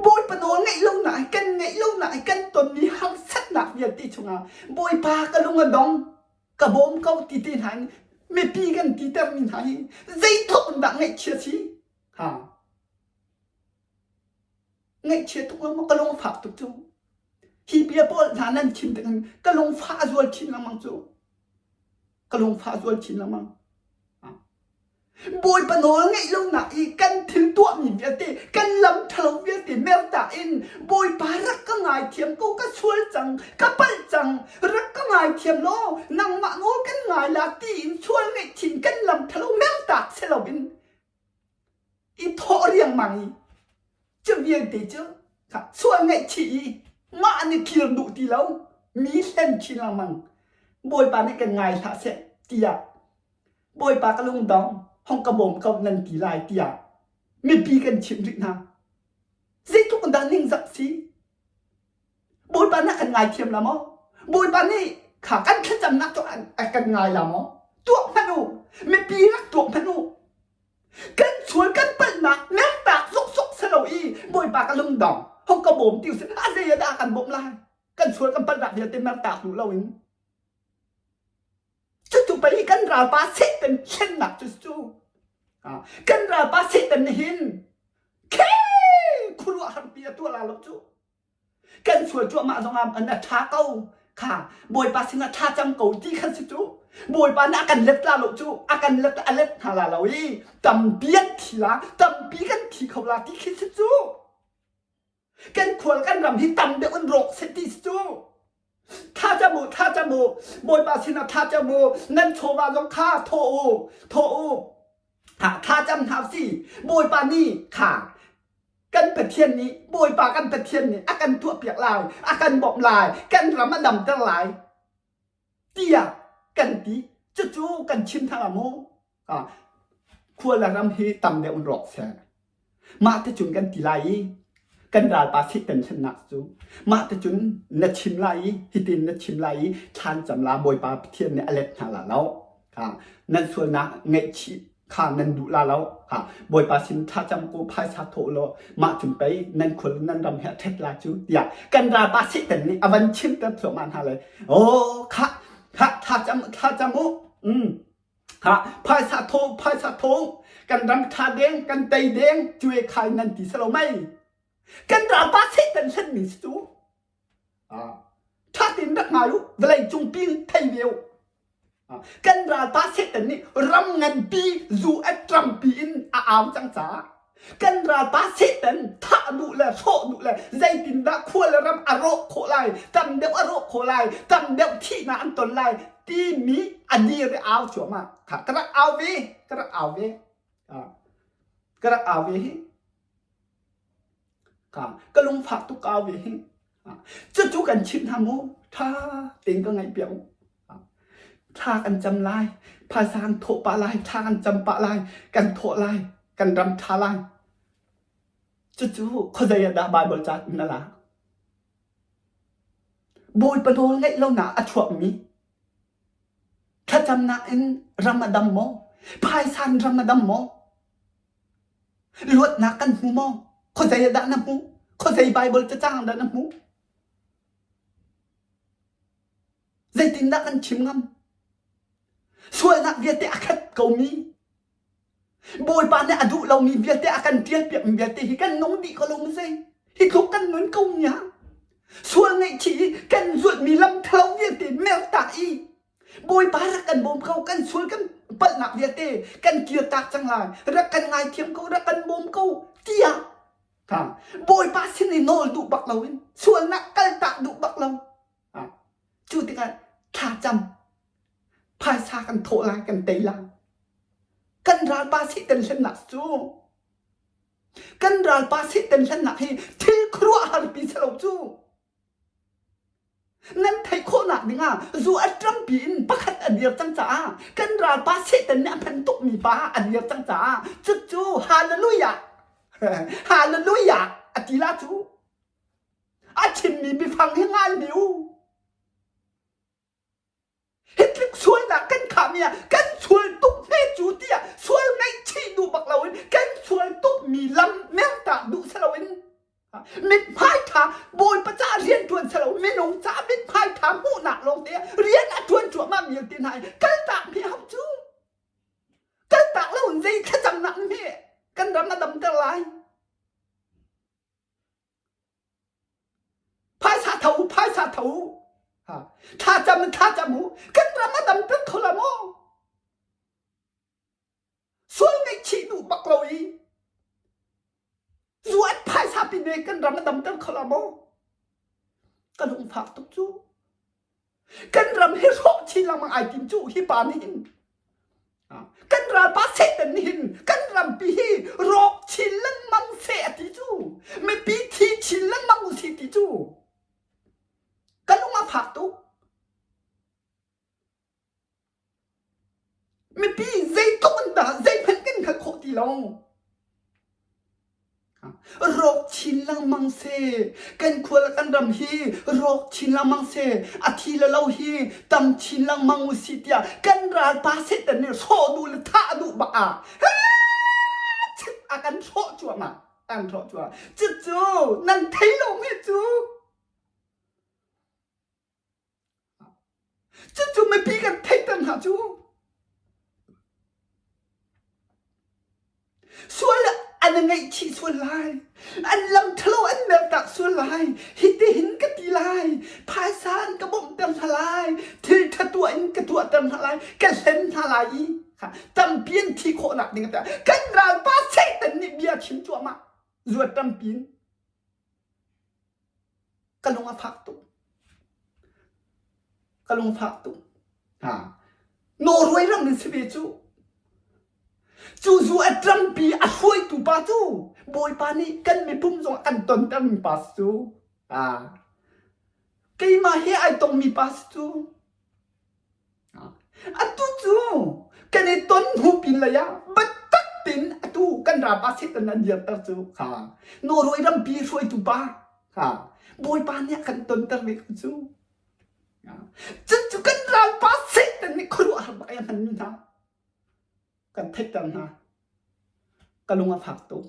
Bawipa nawl ngaih lo na kan ngaih lo na kan tonmi harsatnak vialte chungah Bawipa ka lung a dong ka bawm ko ti te hna in mipi kan ti termi hna hi zeitluk in dah ngaihchia si ha ngaihchia tuk lengmang ka lung fak tuk cu hi bia pawl hna nan chim dingin ka lung fah zual chin lengmang cu ka lung fah zual chin lengmang bawipa nawl ngeih lo nak i kan thil tuah mi vialte kan lam ṭhalo vialte merta in bawipa rak ka ngai thiam ko ka sual cang ka palh cang rak ka ngai thiam law nangmah nawl kan ngai la ti in sual ngeih chin kan lam ṭhalo mertak se lo in i thawh riangmang i cu vialte cu sual ngaihchih i mah nih kir duh ti lo mi hlen chin lengmang bawipa nih kan ngai hlah seh tiah bawipa ka lungdong hong ka bawm ko nan ti lai tiah mipi kan chimh rih hna zeitluk dah ningzak si Bawipa na kan ngaithiam la maw? Bawipa nih kha kan thlacamnak cu kan ngai la maw? Tuak hmanh u, mipi rak tuak hmanh u. Kan sual kan palhnak mektak zuksuk selo i Bawipa ka lungdong hong ka bawm ti usih a zei ah dah kan bawmh lai? Kan sual kan palhnak vialte mertak duh lo in Cutu pei kan ralpa Satan thlennak cu cu kan ralpa Satan nih hin khe khuaruah harpi a tuah la lo cu kan sual cuahmah zong ah an a ṭha ko kha Bawipa sinah ṭha cang ko ti khan si cu Bawipa nih a kan let la lo cu a kan let a let hna la lo i tampi an thi la tampi kan thi kho la ti khi si cu kan khual kan ram hi tam deuh in rawk set ti cu tha ca mu tha ca mu bawipa sinah tha ca mu nan chawva zong kha thaw u thaw u tha cam hna si bawipa ni kha kan pathian nih bawipa kan pathian nih a kan tuah piak lai a kan bawmh lai kan ram a damter lai tiah kan ti cucu kan chim thang ah maw khuala ram hi tam deuh in rawk seh mah te cun kan ti lai i kan ralpa satan sannak cu mah te cun na chim lai i hitin na chim lai i thlan cam la bawipa pathian nih a let hna la lo nan sualnak ngaihchih kha nan duh la lo ha bawipa sin tha cham ko phaisa tho lo ma chun pei nan khul nan ram he thet la chu tia kan ra pa si ten ni avan chim ter thlo ma na le o kha kha tha cham tha cham u mm ha phaisa tho phaisa tho kan ram tha deng kan tei deng chuwe khai nan ti salo mai kan ra pa si ten hlen min su Ṭha tein rak ngai u, vawleicung pi thei ve u. Kan ralpa Satan nih ram nganpi zu etram piin a au cang caah kan ralpa Satan thah duh le hrawh duh le zeitindah khua le ram a rawh khawh lai, tam deuh a rawh khawh lai, tam deuh thihnak an ton lai timi a dir i au cuahmah. Ka rak au ve, ka rak au ve. Ka rak au ve hi. Ka lung fak tuk ka au ve hih. Cucu kan chimh hna mu. Ṭha tein ka ngaih piak u. Thla kan cam lai. Phaisa kan thawh pah lai. Thla kan cam pah lai. Kan thawh lai. Kan ram ṭha lai. Cucu khuazei ah dah Baibal ca in na lak? Bawipa nawl ngaih lonak a chuakmi. Thlacamnak in ram a dam maw? Phaisa in ram a dam maw? Ruatnak kan hmu maw? Khuazei ah dah na hmuh? Khuazei Baibal cacang dah na hmuh? Zeitindah kan chim ngam? Sualnak vialte a khat komi, Bawipa nih a duh lomi vialte a kan ṭialpiak mi vialte hi kan nung dih ko lo mu zei? Hi tluk kan nun ko nia. Sual ngaihchih i kan zulhmi lam ṭhalo vialte mertak i Bawipa rak kan bawm ko kan sual kan palhnak vialte kan kir tak cang lai rak kan ngaithiam ko rak kan bawm ko tiah ta Bawipa sin i nawl duh bak lo in sualnak kaltak duh bak lo cu tikah thlacam phaisa kan thawh lai kan tei lai kan ralpa satan hlennak cu kan ralpa satan hlennak hi thil khuaruahharpi salo cu Nan theih khawhnak dingah zu a ṭampi in pakhat a dir cang caah kan ralpa Satan nih a hman tukmi pa a dir cang caah cucu hallelujah hallelujah a ti la cu a chimmi biafang hi ngalmi u Hitlik sualnak kan khahmi ah kan sual tuk ve cu tiah sual ngaihchih duh bak loin kan sual tukmi lam mertah duh si loin mithmai ṭha Bawipa caah rian ṭuan si lo minung caah mithmai ṭha hmuhnak lawng te rian a ṭuan cuahmahmi vialte hna i kaltak mi a hau cu. Kaltak lo in zei thlacamnak nih hme kan ram a damter lai? Phaisa tho u, phaisa tho u. Ha. Thlacam in thlacam u. Kan ram a dam peng kho la maw? Sual ngaihchih duh bak lo i zuat phaisa pi ne kan ram a dam peng kho la maw? Kan hung fak tuk cu. kan ram hi hrawh chin lengmang ai tim cu hi pa nih hin kan ralpa satan nih hin kan rampi hi rawk chin lengmang fe a ti cu mipi thi chin lengmang u si ti cu ka lung a fak tuk Mipi zeitluk an tah zeihmanh kan hngalh khawh ti lo. Rawk chin lengmang seh. Kan khua le kan ram hi rawk chin lengmang seh. A thi le lo hi tam chin lengmang u sih tiah kan ralpa setan nih hrawh duh le thah duh bak ah a kan hrawh cuahmah. An hrawh cuah. Cucu nan thei lomi cu Cucu mipi kan theihter hna cu. Sual an i ngaihchih sual lai. An lam ṭhalo an mertak sual lai. Hitihin ka ti lai. Phaisa an ka bawmhter hna lai. Thil ṭha tuah in ka tuahter hna lai. Ka hlen hna lai i tampi an thi khawhnak ding a tuah. Kan ralpa Satan nih bia a chim cuahmah. Zuat tampi in. Ka lung a fak tuk. Ka lung a fak tuk. Ha. Nawhruai ram in si ve cu. Cu zu a ṭampi a hruaitu pa cu Bawipa nih kan mipum zong an tontermi pa si cu. Aa. Keimah he ai tongmi pa si cu. Atu cu kan i ton hnu pin lei ah biatak tein atu kan ram ah Satan an dirter cu kha Norway rampi hruaitu pa kha Bawipa nih a kan tonter mi kha cu cun cu kan ralpa Satan nih khuaruahhar ai a hman mi hna kan thetter hna ka lung a fak tuk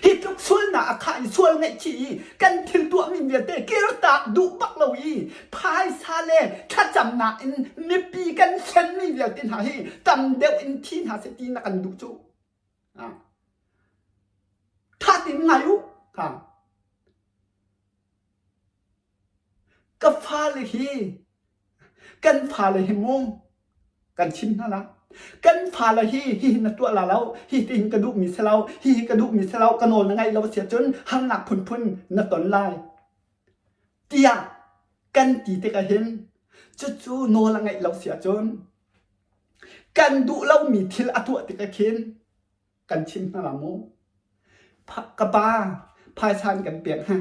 hi tluk sualnak a khah i sual ngaihchih i kan thil tuahmi vialte kirtak duh bak lo i phaisa le thlacamnak in mipi kan senmi vialte hna hi tam deuh in thi hna se ti na kan duh cu thatin ngai u ha Ka fale hi kan fale hi maw kan chim hna la kan fale hi hihi na tuah la lo hihi tihin ka duhmi si lo hihi ka duhmi si lo ka nawl na ngaih lo a si ahcun harnak phunphun na ton lai tiah kan ti tikah hin cucu nawl a ngaih lo si ahcun kan duh lomi thil a tuah tikah khin kan chim hna la maw ka pa phaisa in kan pek hna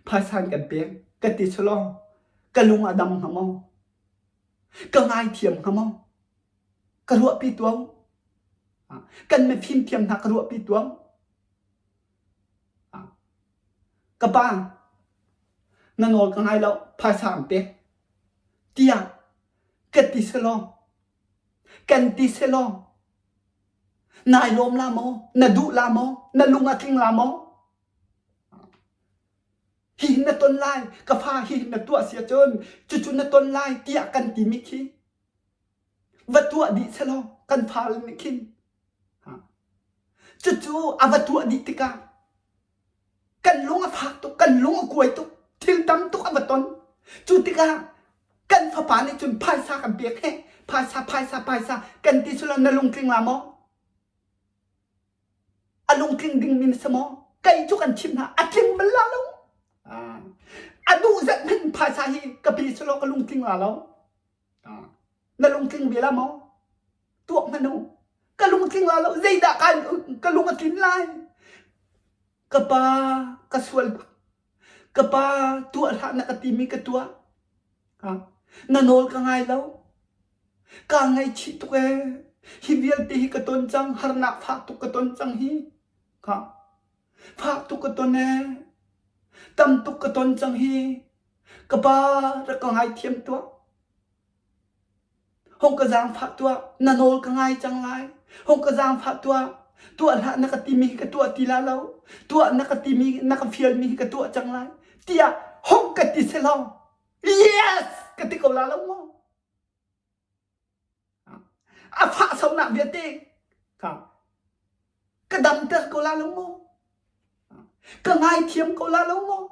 phaisa in kan pek ka ti su law ka lung a dam hnga maw ka ngaithiam hnga maw ka ruahpi tuang kan me fimthiam hna ka ruahpi tuang ka pa na nawl ka ngai lo phaisa an pek tiah ka ti su law Kan ti selaw nai lawm la maw, na duh la maw, na lung a tling la maw? Hi na ton lai, ka fa hi na tuah sia cun cucu na ton lai tiah kan ti mi khi va tuah dih selaw kan fal nih khin cucu a va tuah dih tikah kan lung a fak tuk kan lung a kuai tuk thil tam tuk a va ton cu tikah kan fapa nih cun phaisa kan pek he phaisa phaisa phaisa kan ti silo na lungtling la maw a lungtling dingmi na si maw kei cu kan chim hna a tling bal la lo a duh zet hmenh phaisa hi ka pi silo ka lungtling la lo Na lungtling ve la maw? Tuak hmanh u. Ka lungtling la lo. Zeidah ka, ka lung a tlin lai? Ka pa, ka sual. Ka pa, tuah hlah na ka timi ka tuah. Na nawl ka ngai lo. Ka ngaichih tuk ee. Hi vialte hi ka ton cang. Harnak fah tuk ka ton cang hi. Ka Fah tuk ka ton ee. Tam tuk ka ton cang hi. Ka pa rak ka ngaithiam tuah. Hong ka zaangfah tuah. Na nawl ka ngai cang lai. Hong ka zaangfah tuah. Tuah hlah na ka timi hi ka tuah ti la lo. Tuah na ka timi na ka fialmi hi ka tuah cang lai. Tiah hong ka ti selaw, yes ka ti ko la lo maw? A fah sonak vialte kha ka damter ko la lo maw? Ka ngaithiam ko la lo maw?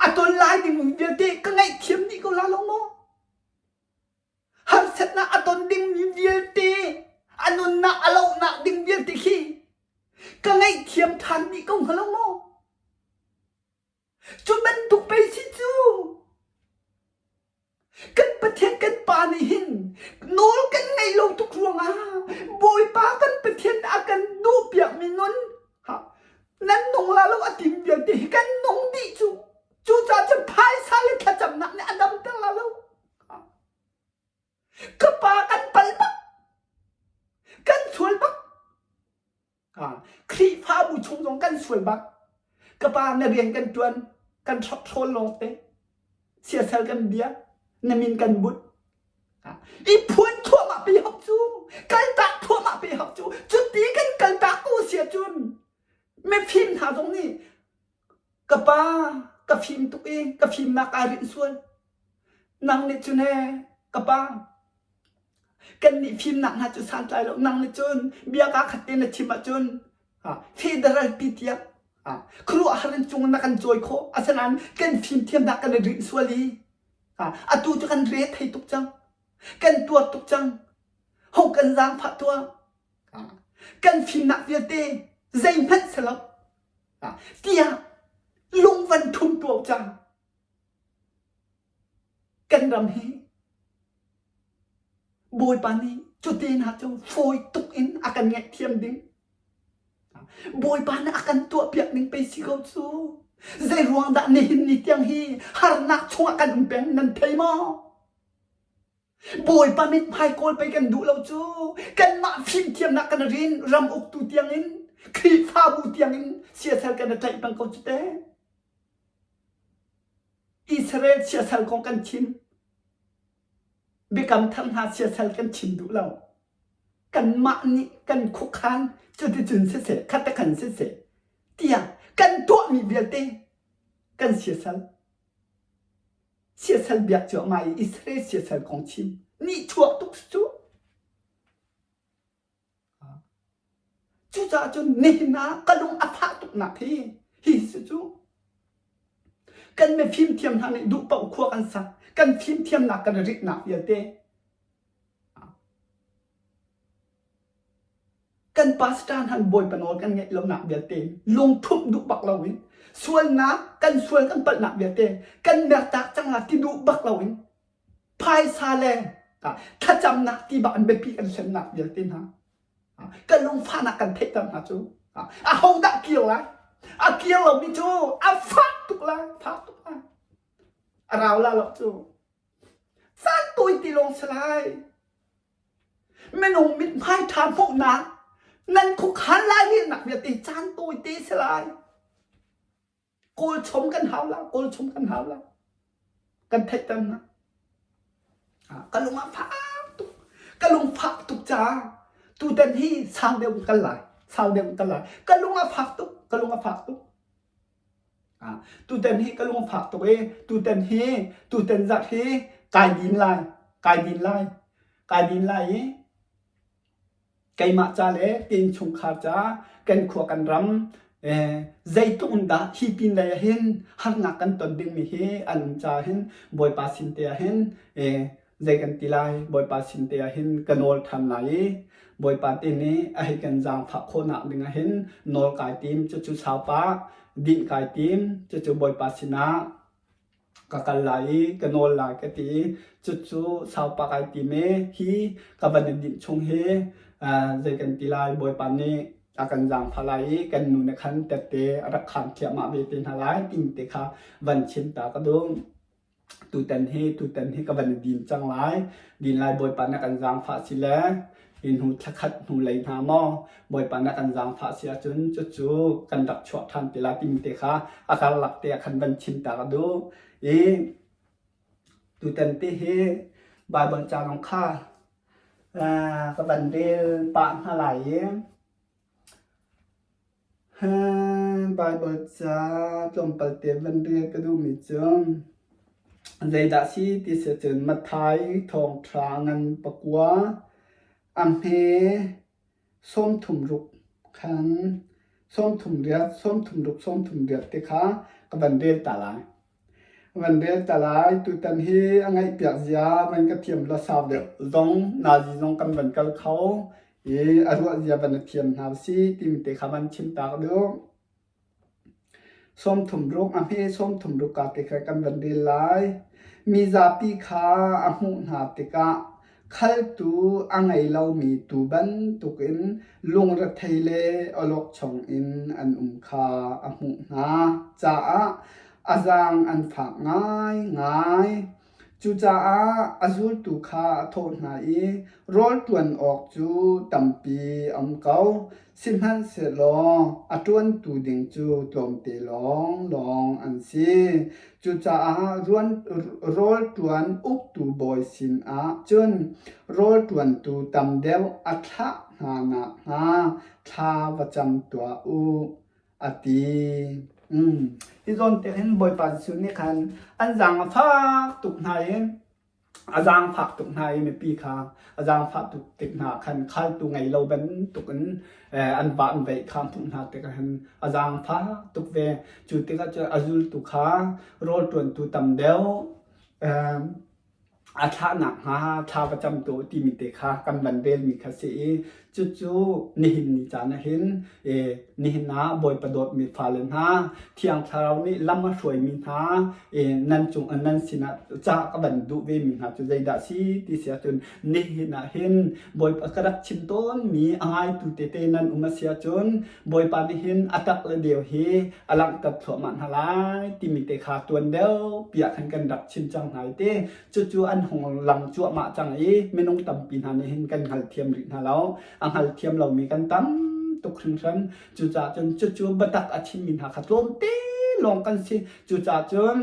A ton lai ding vialte ka ngaihthiam dih ko la lo maw? Harsatnak a ton ding vialte, a nunnak a lohnak ding vialte khi ka ngaihthiam ṭhan dih ko hnga lo maw? Cu bantuk pei si cu! Kan Pathian kan Pa nih hin nawl kan ngaih lo tuk ruangah Bawipa kan Pathian nih a kan duhpiakmi nun ha, nan nung la lo a tim vialte hi kan nung dih cu. Cucaah cun phaisa le thlacamnak nih a damter la lo. Ka pa kan pal bak, kan sual bak. Khrihfabu chung zong kan sual bak. Ka pa na rian kan ṭuan, kan ṭhawl lawng te, siasal kan bia, na min kan bunh. I phuan thluahmah pe hok cu, kaltak thluahmah pe hok cu. Cuti kan kaltak ko a si ahcun mifim hna zong nih Ka pa ka fim tuk i ka fimnak aa rinh sual. Nang nih cun ee ka pa, kannih fimnak hna cu santlai lo. Nang nih cun bia kaa khat te na chim ahcun fehter an ti tiah khuaruahhar in cung na kan cawi khawh. Asinain kan fimthiam hna kan i rinh sual i atu cu kan re thei tuk cang. Kan tuar tuk cang. Ho kan zaangfah tuah. Kan fimnak vialte zeihmanh si lo. tiah lungvan thum tuau cang kan ram hi bawipa nih cuten ha cun fawi tuk in a kan ngaih thiam ding bawipa nih a kan tuah piak ning pei si ko cu zei ruang dah nihin ni tiang hi harnak chungah kan um peng nan thei maw Bawipa mithmai kawl pei kan duh lo cu. Kanmah fimthiamnak kan rin ram uktu tiangin Khrihfabu tiangin siasal kan i tlaih peng ko cu te. Israel siasal kong kan chim. Biakam thar hna siasal kan chim duh lo. Kanmah nih kan khukhan cuticun siseh, khatakhan siseh, tiah kan tuahmi vialte kan siasal. siasal biak cuahmah i Israel siasal kong chim nih chuah tuk cu cucaah cun nihin ah ka lung a fah tuknak hi hi si cu kan me fimthiam hna nih duh paoh khua kan sak kan fimthiamnak kan ritnak vialte Kan pastor nih bawipa nawl kan ngaih lonak vialte lungthumh duh bak loin sualnak kan sual kan palhnak vialte kan mertak cangah ti duh bak loin phaisa le thlacamnak ti bak an biapi kan semnak vialte hna kan lungfahnak kan theihter hna cu a hodah kir lai a kir lomi cu a fak tuk lai tha tuk lai a rau la lo cu can tui ti lawng si lai Minung mithmai ṭha hmuhnak nan khukhal lai lehnak vialte caan tawite a si lai. Kawl chom kan hau lo, kawl chom kan hau lo. Kan theihternak. Ah, ka lung a fak tuk. Ka lung fak tuk caah tutan hi sang deuh in kal lai. Sau deuh in kal lai. Ka lung a fak tuk. Ka lung a fak tuk. Tutan hi ka lung a fak tuk i tutan hi tutan zarh hi kai din lai, kai din lai, kai din lai i keimah ca le ka innchungkhar ca kan khua kan ram zeitluk in dah hi pin lei ah hin harnak kan ton dingmi hi an um caah hin Bawipa sin te ah hin zei kan ti lai Bawipa sin te ah hin ka nawl ṭhan lai i Bawipa te nih a hei kan zaangfah khawhnak ding ah hin nawl kai tim cucu saupa dinh kai tim cucu Bawipa sinah ka kal lai i ka nawl lai ka ti i cucu saupa kai tim i hi ka van i dinh chung hi zei kan ti lai Bawipa nih a kan zaangfah lai i kan nu nih khan tette a rak khaan ṭhiahmah ve te hna lai tingte kha van chim ta ka duh. tutan hi tutan hi ka van i din cang lai din lai bawipa na kan zaangfah si le hi hnu thla khat hnu lei hna maw bawipa na kan zaangfah si ahcun cucu kan rak chuah ṭhan te lai timi te kha a karlak te ah khan van chimtak a duh i tutan te hi Bible canong kha ka van rel pah hna lai i Baibal ca tlawmpal te van rel ka duhmi cu zeidah a si ti si ahcun Matthai Thawngṭha ngan pakua a hme sawmthum ruk khan sawmthum riat sawmthum ruk sawmthum riat te kha ka van rel ta lai. Van rel ta lai. Tutan hi a ngaihpiak zia van ka thiam lo sau deuh zong nazi zong kan van kal kho i a ruah zia van thiam hna usih timi te kha van chim taak duh. Sawmthum ruk a hme sawmthum ruk ka te kha kan van rel lai. Mi zapi kha a hmuh hna tikah Khaltu a ngei lomi tuu bantukin lungrethei le awlokchong in an um kha a hmuh hna caah a zaang an fak ngaingai. Cucaah a zultu kha a thawh hna i rawl ṭuan awk cu tampi a um ko. Sihmanhsehlaw a ṭuantu ding cu tlawmte lawnglawng an si. Cucaah rawlṭuan uktu bawi sinah cun rawlṭuantu tam deuh a thlah hna nakhnga thla va cam tuah u, a ti. Hi zawntek hin Bawipa Jesuh nih khan an zaang a fak tuk hna i a zaangfak tuk hna i mipi kha a zaangfah tuk tik hna khan khaltu ngei lo bantuk in an va an veih kha hmuh hna tikah khan a zaangfah tuk ve cu tikah cu a zultu kha rawlṭuantu tam deuh a thlah nakhnga thla va camtu timi te kha kan van relmi kha si i Cucu nihin ni caan ah hin nihin ah Bawipa dawtmi fale hna Thiang Thlarau nih lam a hruaimi hna nan cung nan sinah ca ka van duh vemi hna cu zeidah si ti si ahcun nihin ah hin Bawipa ka rak chim tawnmi a ngaitu tete nan um a si ahcun Bawipa nih hin a tak le deu hi a langhter thluahmah hna lai timi te kha tuan deuh piah khan kan rak chim cang hna i ti Cucu an hung lang cuahmah cang i minung tampi hna nih hin kan hngalthiam rih hna lo. A hngalthiam lomi kan tam tuk hringhran. Cucaah cun cucu biatak a chimmi hna kha tlawmte lawng kan si. Cucaah cun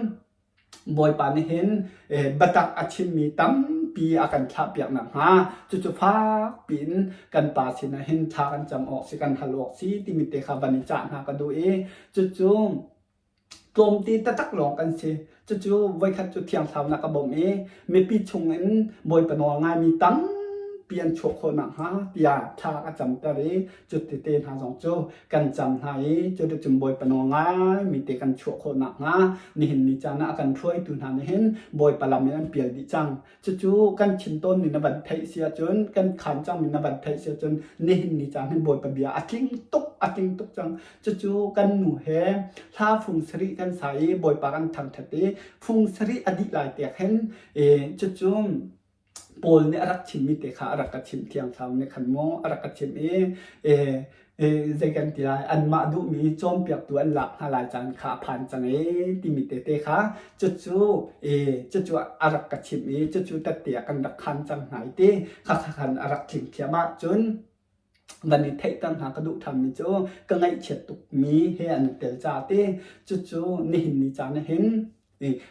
Bawipa nih hin eh, biatak a chimmi tampi a kan thlahpiak nakhnga cucu fak piin kan pa sinah hin thla kan cam awk si kan hal awk si timi te kha van i cah hna ka duh i cucu tlawmte taktak lawng kan si. Cucu voikhat cu thiangthlaunak a bawm i mipi chungin Bawipa nawl ngaimi tampi an chuah khawh nakhnga tiah thla a camter i cutete hna zong cu kan cam hna i cuticun Bawipa nawl ngaimi te kan chuah khawh nakhnga nihin ni caan ah a kan hruaitu hna nih hin Bawipa lam in an pial dih cang. Cucu kan chin tawnmi na van theih si ahcun, kan khan cangmi na van theih si ahcun, nihin ni cang hin Bawipa bia a tling tuk, a tling tuk cang. Cucu kan nu he hla phung sarih kan sa i Bawipa kan thangthat i phung sarih a dih lai tek hin, e, cucu Paul nih a rak chimmi te kha a rak ka chimh thiang sau nih khan mu, a rak ka chimh i, e, eh, zei kan ti lai anmah duhmi cawnpiaktu an lak hna lai caan kha a phan cang e timi tete kha cucu e cucu a rak ka chimh i cucu tette a kan rak khan cang hna i ti khakha khan a rak tling thiam ah cun van i theihter hna ka duh thammi cu ka ngaihchiat tukmi he an tel ca ti cucu nihin ni caan ah hin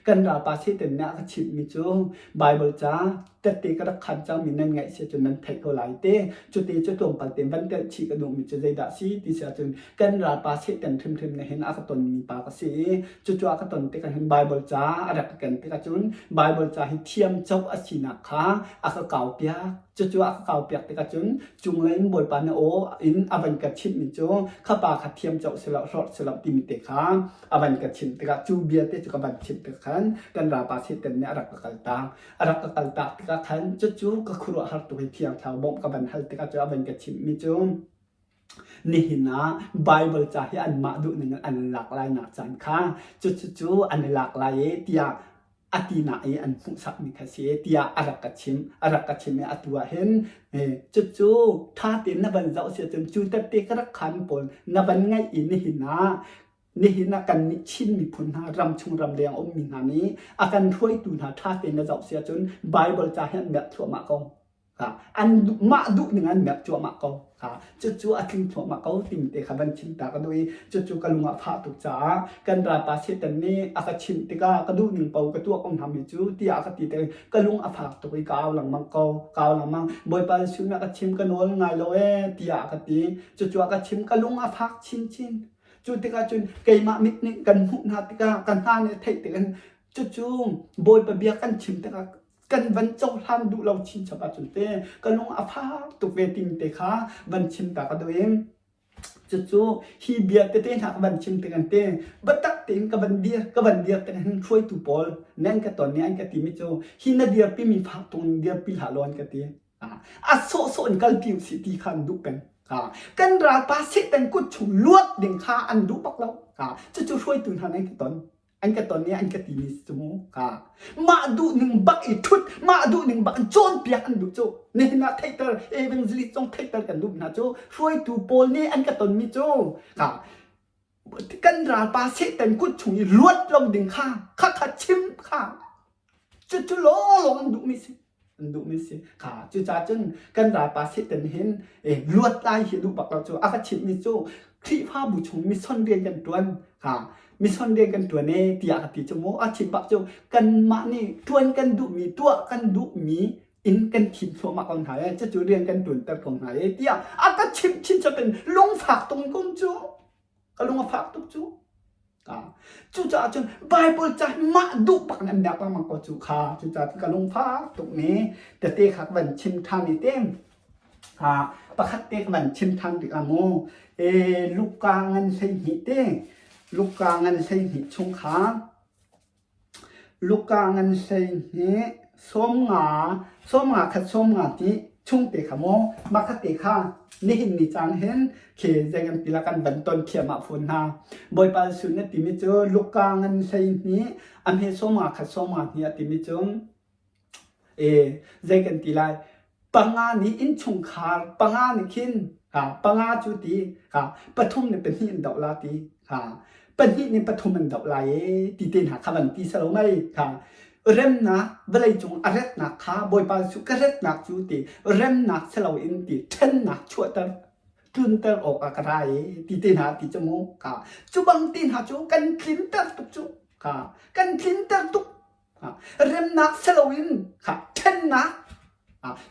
kan ralpa Satan nih a ka chimhmi cu Baibal ca tette ka rak khan cangmi nan ngaih si cun nan theih ko lai te cute cu tlawmpal te van telh chih ka duhmi cu zeidah si ti si ahcun kan ralpa Satan hrimhrim nih hin a ka tonmi pa ka si i cucu a ka ton tikah hin Baibal ca a rak ka ken tikah cun Baibal ca hi thiam coh a sinak kha a ka kaupiak cucu a ka kaupiak tikah cun cunglei in Bawipa na aw in a van ka chimhmi cu khapa kha thiam coh silo hlorh silo timi te kha avan ka chimh tikah cu vialte cu ka van chimh tikah khan kan ralpa Satan nih a rak ka kal taang a rak ka kal tak tikah khan cucu ka khuaruah har tuk i thiangthlarau bawmh ka van hal tikah cu avan ka chimhmi cu nihin ah Bible ca hi anmah duhning in an lak lai nak caan kha cucu cu an i lak lai e tiah a tinak i an hmuhsakmi kha si tiah a rak ka chim a rak ka chim i atu ah hin cucu ṭha tein na van zoh si cun cu tette ka rak khan pawl na van ngaih i nihin ah nihin ah kan nih Chin miphun hna ram chung ram leng ummi hna nih a kan hruaitu hna ṭha tein na zoh si cun Bible ca hi an merh thluahmah ko. mah duh ning an merh cuahmah ko cucu a tling thluahmah ko ting te kha van chim ta ka duh i cucu ka lung ah fah tuk caah kan ralpa Satan nih a ka chimh tikah ka duh ning po ka tuah ko hna mi cu tiah a ka ti te ka lung a fak tuk i ka au lengmang ko ka au lengmang Bawipa Jesuh nih a ka chim ka nawl ngai lo e tiah a ka ti cucu a ka chim ka lung a fak chinchin cu tikah cun keimah mit nih kan hmuh hna tikah ka hna nih theih tik in cucu Bawipa bia kan chim tikah kan van cohlan duh lo chinchap ahcun te ka lung a fak tuk ve ting te kha van chim ta ka duh i cucu hi bia tete hna ka van chim tik an te batak tein ka van dir ka van dir tik hin hruaitu pawl nan ka ton ni an ka ti mi cu hi na dir pi mi fak tung dir pi hla lawn ka ti a sawh sawh in kal pi si ti kha an duh peng kan ral pa setan kut chung luat ding kha an duh bak lo cucu hruaitu hna nan ka ton an ka ton i an ka timi cung ka mah duhning bak i thut mah duhning bak an cawnpiak an duh cu nihin ah theiter evangelist cong theiter kan duh hna cu hruaitu pawl nih an ka tonmi cu ka kan ralpa satan kut chung i luat lo ding kha kha kha chim kha Cucu lawlawng an duhmi si. An duhmi si. Ha, cucaah cun kan ralpa Satan hin eh, luatlai hi a duh bak lo cu. A ka chimhmi cu Khrihfabu chung mission rian kan ṭuan. Ha, mission rian kan ṭuan e tiah ka ti cu mu. A chim bak cu kanmah nih ṭuan kan duhmi, tuah kan duhmi in kan thim thluahmah ko hna e. Cucu rian kan ṭuanter ko hna e tiah a ka chimh chin chap in lungfak tung kum cu. ka lung a fak tuk cu ka cucaah cun Bible ca hi mah duh bak in an biak lengmang ko cu kha cucaah ka lung fak tuk mi tete kha ka van chim ṭhan i tim ha pakhat te ka van chim ṭhan tik ah mu e Luka ngan hlei hnih te Luka ngan hlei hnih chung khan Lukaa ngan hlei nih sawmnga khat sawmnga ti chung te kha maw mahka te kha nihin ni caan hen khi zeigan ti lah kan van ton thiamah fawn hna. Bawipa Jesuh na timi cu Lukaa ngan hlei nih a hme sawmnga khat sawmnga hnih a timi cun Zei kan ti lai? Panga nih innchungkhar, panga nih khin panga cu ti pathum nih pahnih an doh la ti. Pahnih nih pathum an doh lai ee ti te hna kha van ti salo mei. Remnak vawlei cung a retnak kha Bawipa Jesuh ka retnak cu ti remnak silo in ti ṭhennak chuahter, tlunter awk ah ka ra ee ti te hna ti cu mu. Cu bang ti hna cu kan tlinter tuk cu. Kan tlinter tuk remnak si loin ṭhennak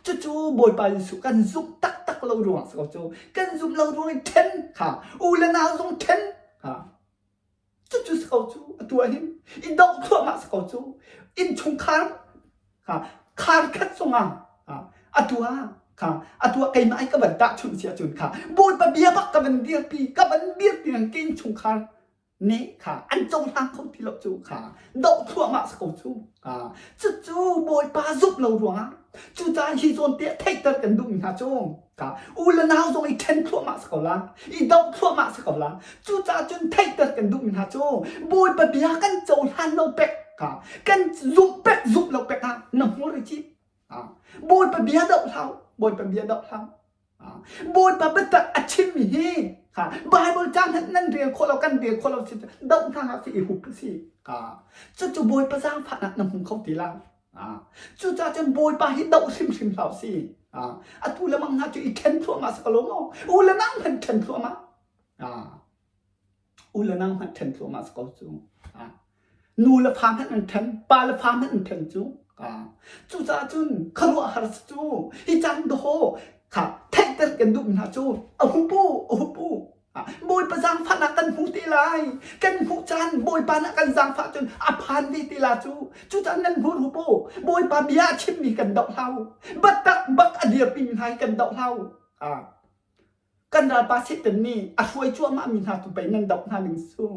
cucu Bawipa Jesuh kan zumh taktak lo ruangah si ko cu kan zumh lo ruangin ṭhen u le nau zong ṭhen cucu si ko cu atu ah hin i dongh thluahmah si ko cu innchungkhar khar khat zongah atu ah atu ah keimah i ka van tahchunh si ahcun Bawipa bia bak ka van dirpi ka van dirpi ngang ke innchungkhar Ne kha an cohlang kho ti lo cu kha doh thluahmah sa ko cu ka cucu bawipa zumh lo ruangah cucaah hi zawn te theihter kan duhmi hna cu ka u le nau zong i ṭhen thluahmah sa ko la i doh thluahmah sa ko la cucaah cun theihter kan duhmi hna cu bawipa bia kan cohlan lo pek ka kan zumh pek zumh lo pek ah na hmur i cip ka bawipa bia doh hlau bawipa bia doh hlau Bawipa biatak a chimmi hi Baibal ca hmanh nan rel khawh lo kan rel khawh lo si doh hna hlah si i hup si cucu Bawipa zaangfahnak na hmu kho ti lo cucaah cun Bawipa hi doh hrimhrim hlah si atu le mang hna cu i ṭhen thluahmah saka lawm u u le nang hmanh ṭhen thluahmah U le nang hmanh ṭhen thluahmah si ko cu. Nu le fa hmanh an ṭhen, pa le fa hmanh an ṭhen cu. Cucaah cun khuaruahhar si cu. Hi caan dawhaw kha theihter kan duhmi hna cu a hu pu, a hu pu. Bawipa zaangfahnak kan hmu te lai. Kan hmuh caan Bawipa nih kan zaangfah cun a phan ve te la cu. Cucaah nan hmur hu pu, Bawipa bia a chimmi kan doh hlah u. Battak bak a dirpimi hna hi kan doh hlah u. kan ralpa Satan nih a hruai cuahmahmi hna tu pei nan doh hna ning su.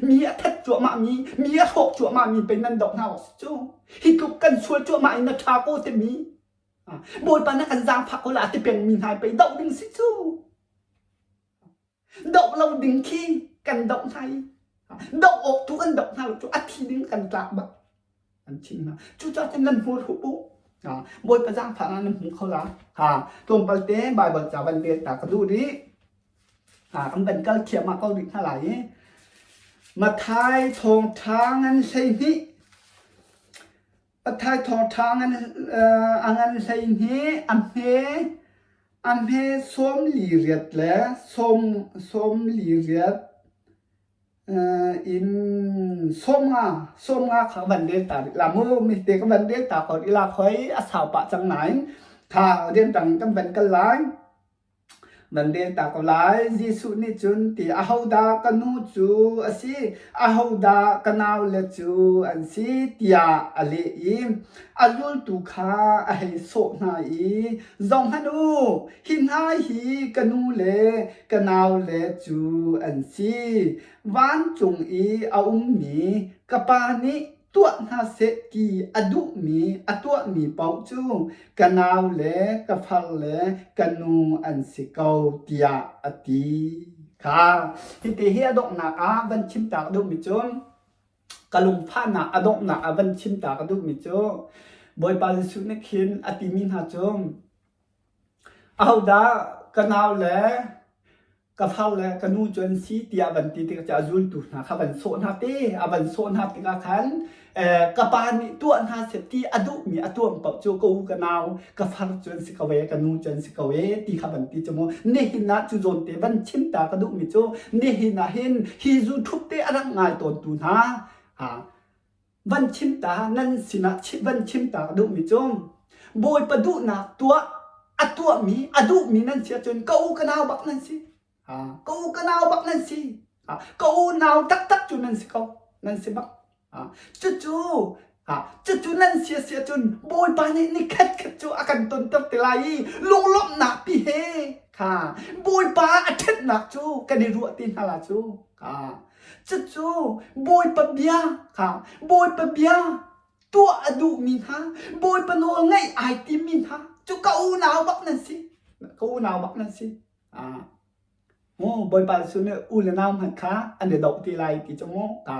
Mi a that cuahmah mi, mi a hrawk cuahmah mi pei nan doh hna u cu. Hi tluk kan sual cuahmah in na tha ko timi. Bawipa na kan zaangfah ko la ti peng mi hna pei doh ding si cu. Doh lo ding khi kan doh hna i, doh awk tu kan doh hna lo cu a thi ding kan tlak bak. an thih hna. Cucaah cun nan hmur hup u. Bawipa zaangfahnak nan hmu kho la. Tlawmpal te Baibal ca van rel ta ka duh rih. Kan van kal thiamah ko rih hna lai i Mathai thawngṭha ngan hleihnih Mathai thawngṭha ngan hleihnih a hme a hme sawm li riat le sawm li riat Inn sawmnga sawmnga kha ka van rel ta rih lam u. Mihte ka van rel ta ko rih lak hoi a sau pah cang nain tha rian tang in kan van kal lai. Van rel ta ko lai. Jesuh nih cun ti ahodah ka nu cu a si? Ahodah ka naule cu an si? tiah a leh i a zultu kha a hei sawh hna i, Zohhmanh u, hi hna hi ka nu le ka naule cu an si. Vancung i a ummi ka Pa nih tuah hna seh ti a duhmi a tuahmi paoh cu ka nau le ka farle ka nu an si ko tiah a ti kha hiti hi a donghnak ah van chimtak duhmi cu ka lungphahnak a donghnak ah van chimtak a duhmi cu Bawipa Jesuh nih khin a timi hna cu Ahodah ka nau le ka far le ka nu cu an si tiah a van ti tikah cun a zultu hna kha a van sawh hna ti. A van sawh hna tikah khan eh ka pa nih tuah hna seh ti a duhmi a tuam paoh cu ka u, ka nau, ka far cu an si ko ee, ka nu cu an si ko ee ti kha a van ti cu mu. Nihin ah cu zawnte van chim ta ka duhmi cu nihin ahhin hi zu thup te a rak ngai tawntu hna ha van chimta nan sinah van chimta duhmi cu bawipa duhnak tuah a tuahmi a duhmi nan si ahcun ka u ka nau bak nan si ka u ka nau bak nan si ka u nau taktak cu nan si ko nan si bak cucu cucu nan si a si ahcun bawipa nih ni khat khat cu a kan tonter ti lai i lunglawmhnak pi he kha bawipa a ṭhatnak cu kan i ruah ti hna la cu Cucu Bawipa bia kha Bawipa bia tuah a duhmi hna Bawipa nawl ngaih ai timmi hna cu ka unau bak nan si ka unau bak nan si ah Mu Bawipa Jesuh nih u le nau hmanh kha an i doh ti lai ti cu mu ta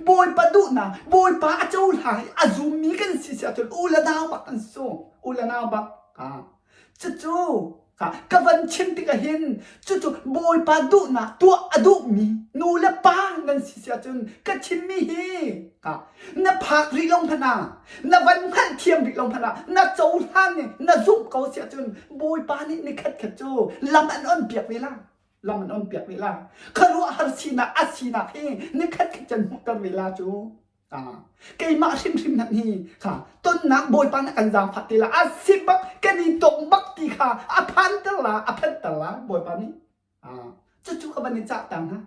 Bawipa duhnak Bawipa a cohlang i a zummi kan si si ahcun u le nau bak an si u le nau bak ah Cucu ka van chim tikah hin cucu Bawipa duhnak tuah a duhmi nu le pa nan si si ahcun ka chimmi hi na phak rih lo hmanh ah na van hngalhthiam rih lo hmanh ah na cohlan i na zumh ko si ahcun Bawipa nih ni khatkhat cu lam an on piak ve la lam an on piak ve la khuaruahhar sinak a sinak hi ni khatkhat can hmuhter ve la cu keimah hrimhrim hmanh hi kha tonnak bawipa na kan zaangfah ti la a sik bak kan i tong bak ti kha a phanter la a phanter la bawipa nih cucu ka van i cah ta hna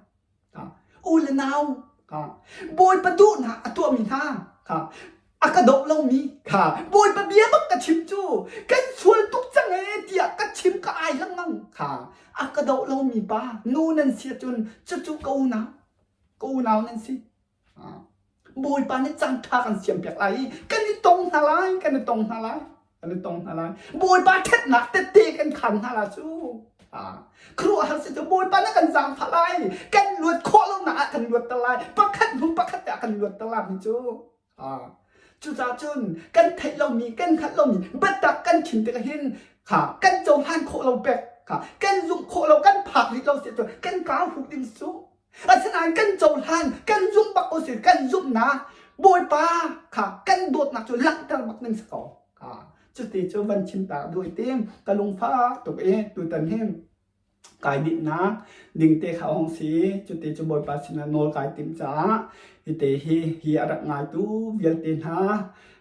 u le nau bawipa duhnak a tuahmi hna a ka doh lomi kha bawipa bia bak ka chim cu kan sual tuk cang ee tiah ka chim ka ai lengmang kha a ka doh lomi pa nu nan si cun cucu ka unau ka unau nan si Bawipa nih cangṭha kan siampiak lai i kan i tong hna lai, kan i tong hna lai, kan i tong hna lai. Bawipa ṭhatnak tette kan khan hna lai cu. Khuaruahhar si cu Bawipa nih kan zaangfah lai, kan luat khawh lonak ah kan luatter lai, pakhat hnu pakhat te ah kan luatter lai cu. Cucaah cun kan theih lomi, kan hngalh lomi biatak kan khim tik ahhin kan cohlan khawh lo pek, kan zumh khawh lo, kan phak rih lo si ahcun kan kaa huh ding su. Asinain kan cohlan, kan zumh bak ko si, kan zumhnak Bawipa kha kan dawtnak cu langhter bak ning si ko. Cuti cu van chimta duai tim ka lungfak tuk i tutan hin kai dinnak dingte kha hong si cuti cu Bawipa sinah nawl kai tim caah hite hi hi a rak ngaitu vialte hna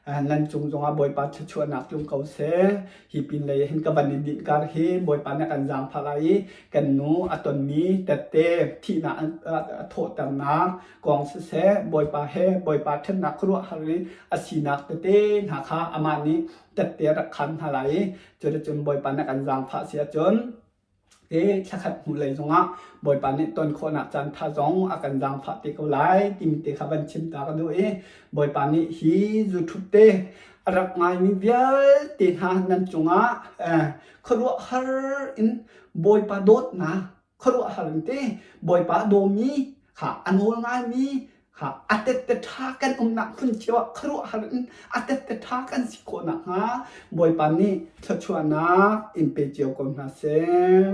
nan cung zongah Bawipa thluachuahnak tlung ko seh. Hi pinlei hin ka van i dinh kar hi Bawipa nih kan zaangfah lai i kan nu a tonmi tette thihnak a thawhternak kong siseh Bawipa he Bawipa ṭhennak khuaruahhar i a sinak tete hna kha amah nih tette rak khan hna lai i cuticun Bawipa nih kan zaangfah si ahcun te thlakhat hnu lei zongah Bawipa nih ton khawhnak caantha zong a kan zaangfah te ko lai timi te kha van chim ta ka duh i Bawipa nih hi YouTube te a rak ngaimi vialte hna nan cungah eh, khuaruah har in Bawipa dawtnak khuaruah har in te Bawipa dawmi kha a nawl ngaimi kha a tette ṭha kan umnak hmun cio ah khuaruahhar in a tette ṭha kan si khawh nakhnga Bawipa nih thluachuahnak in pe cio ko hna seh.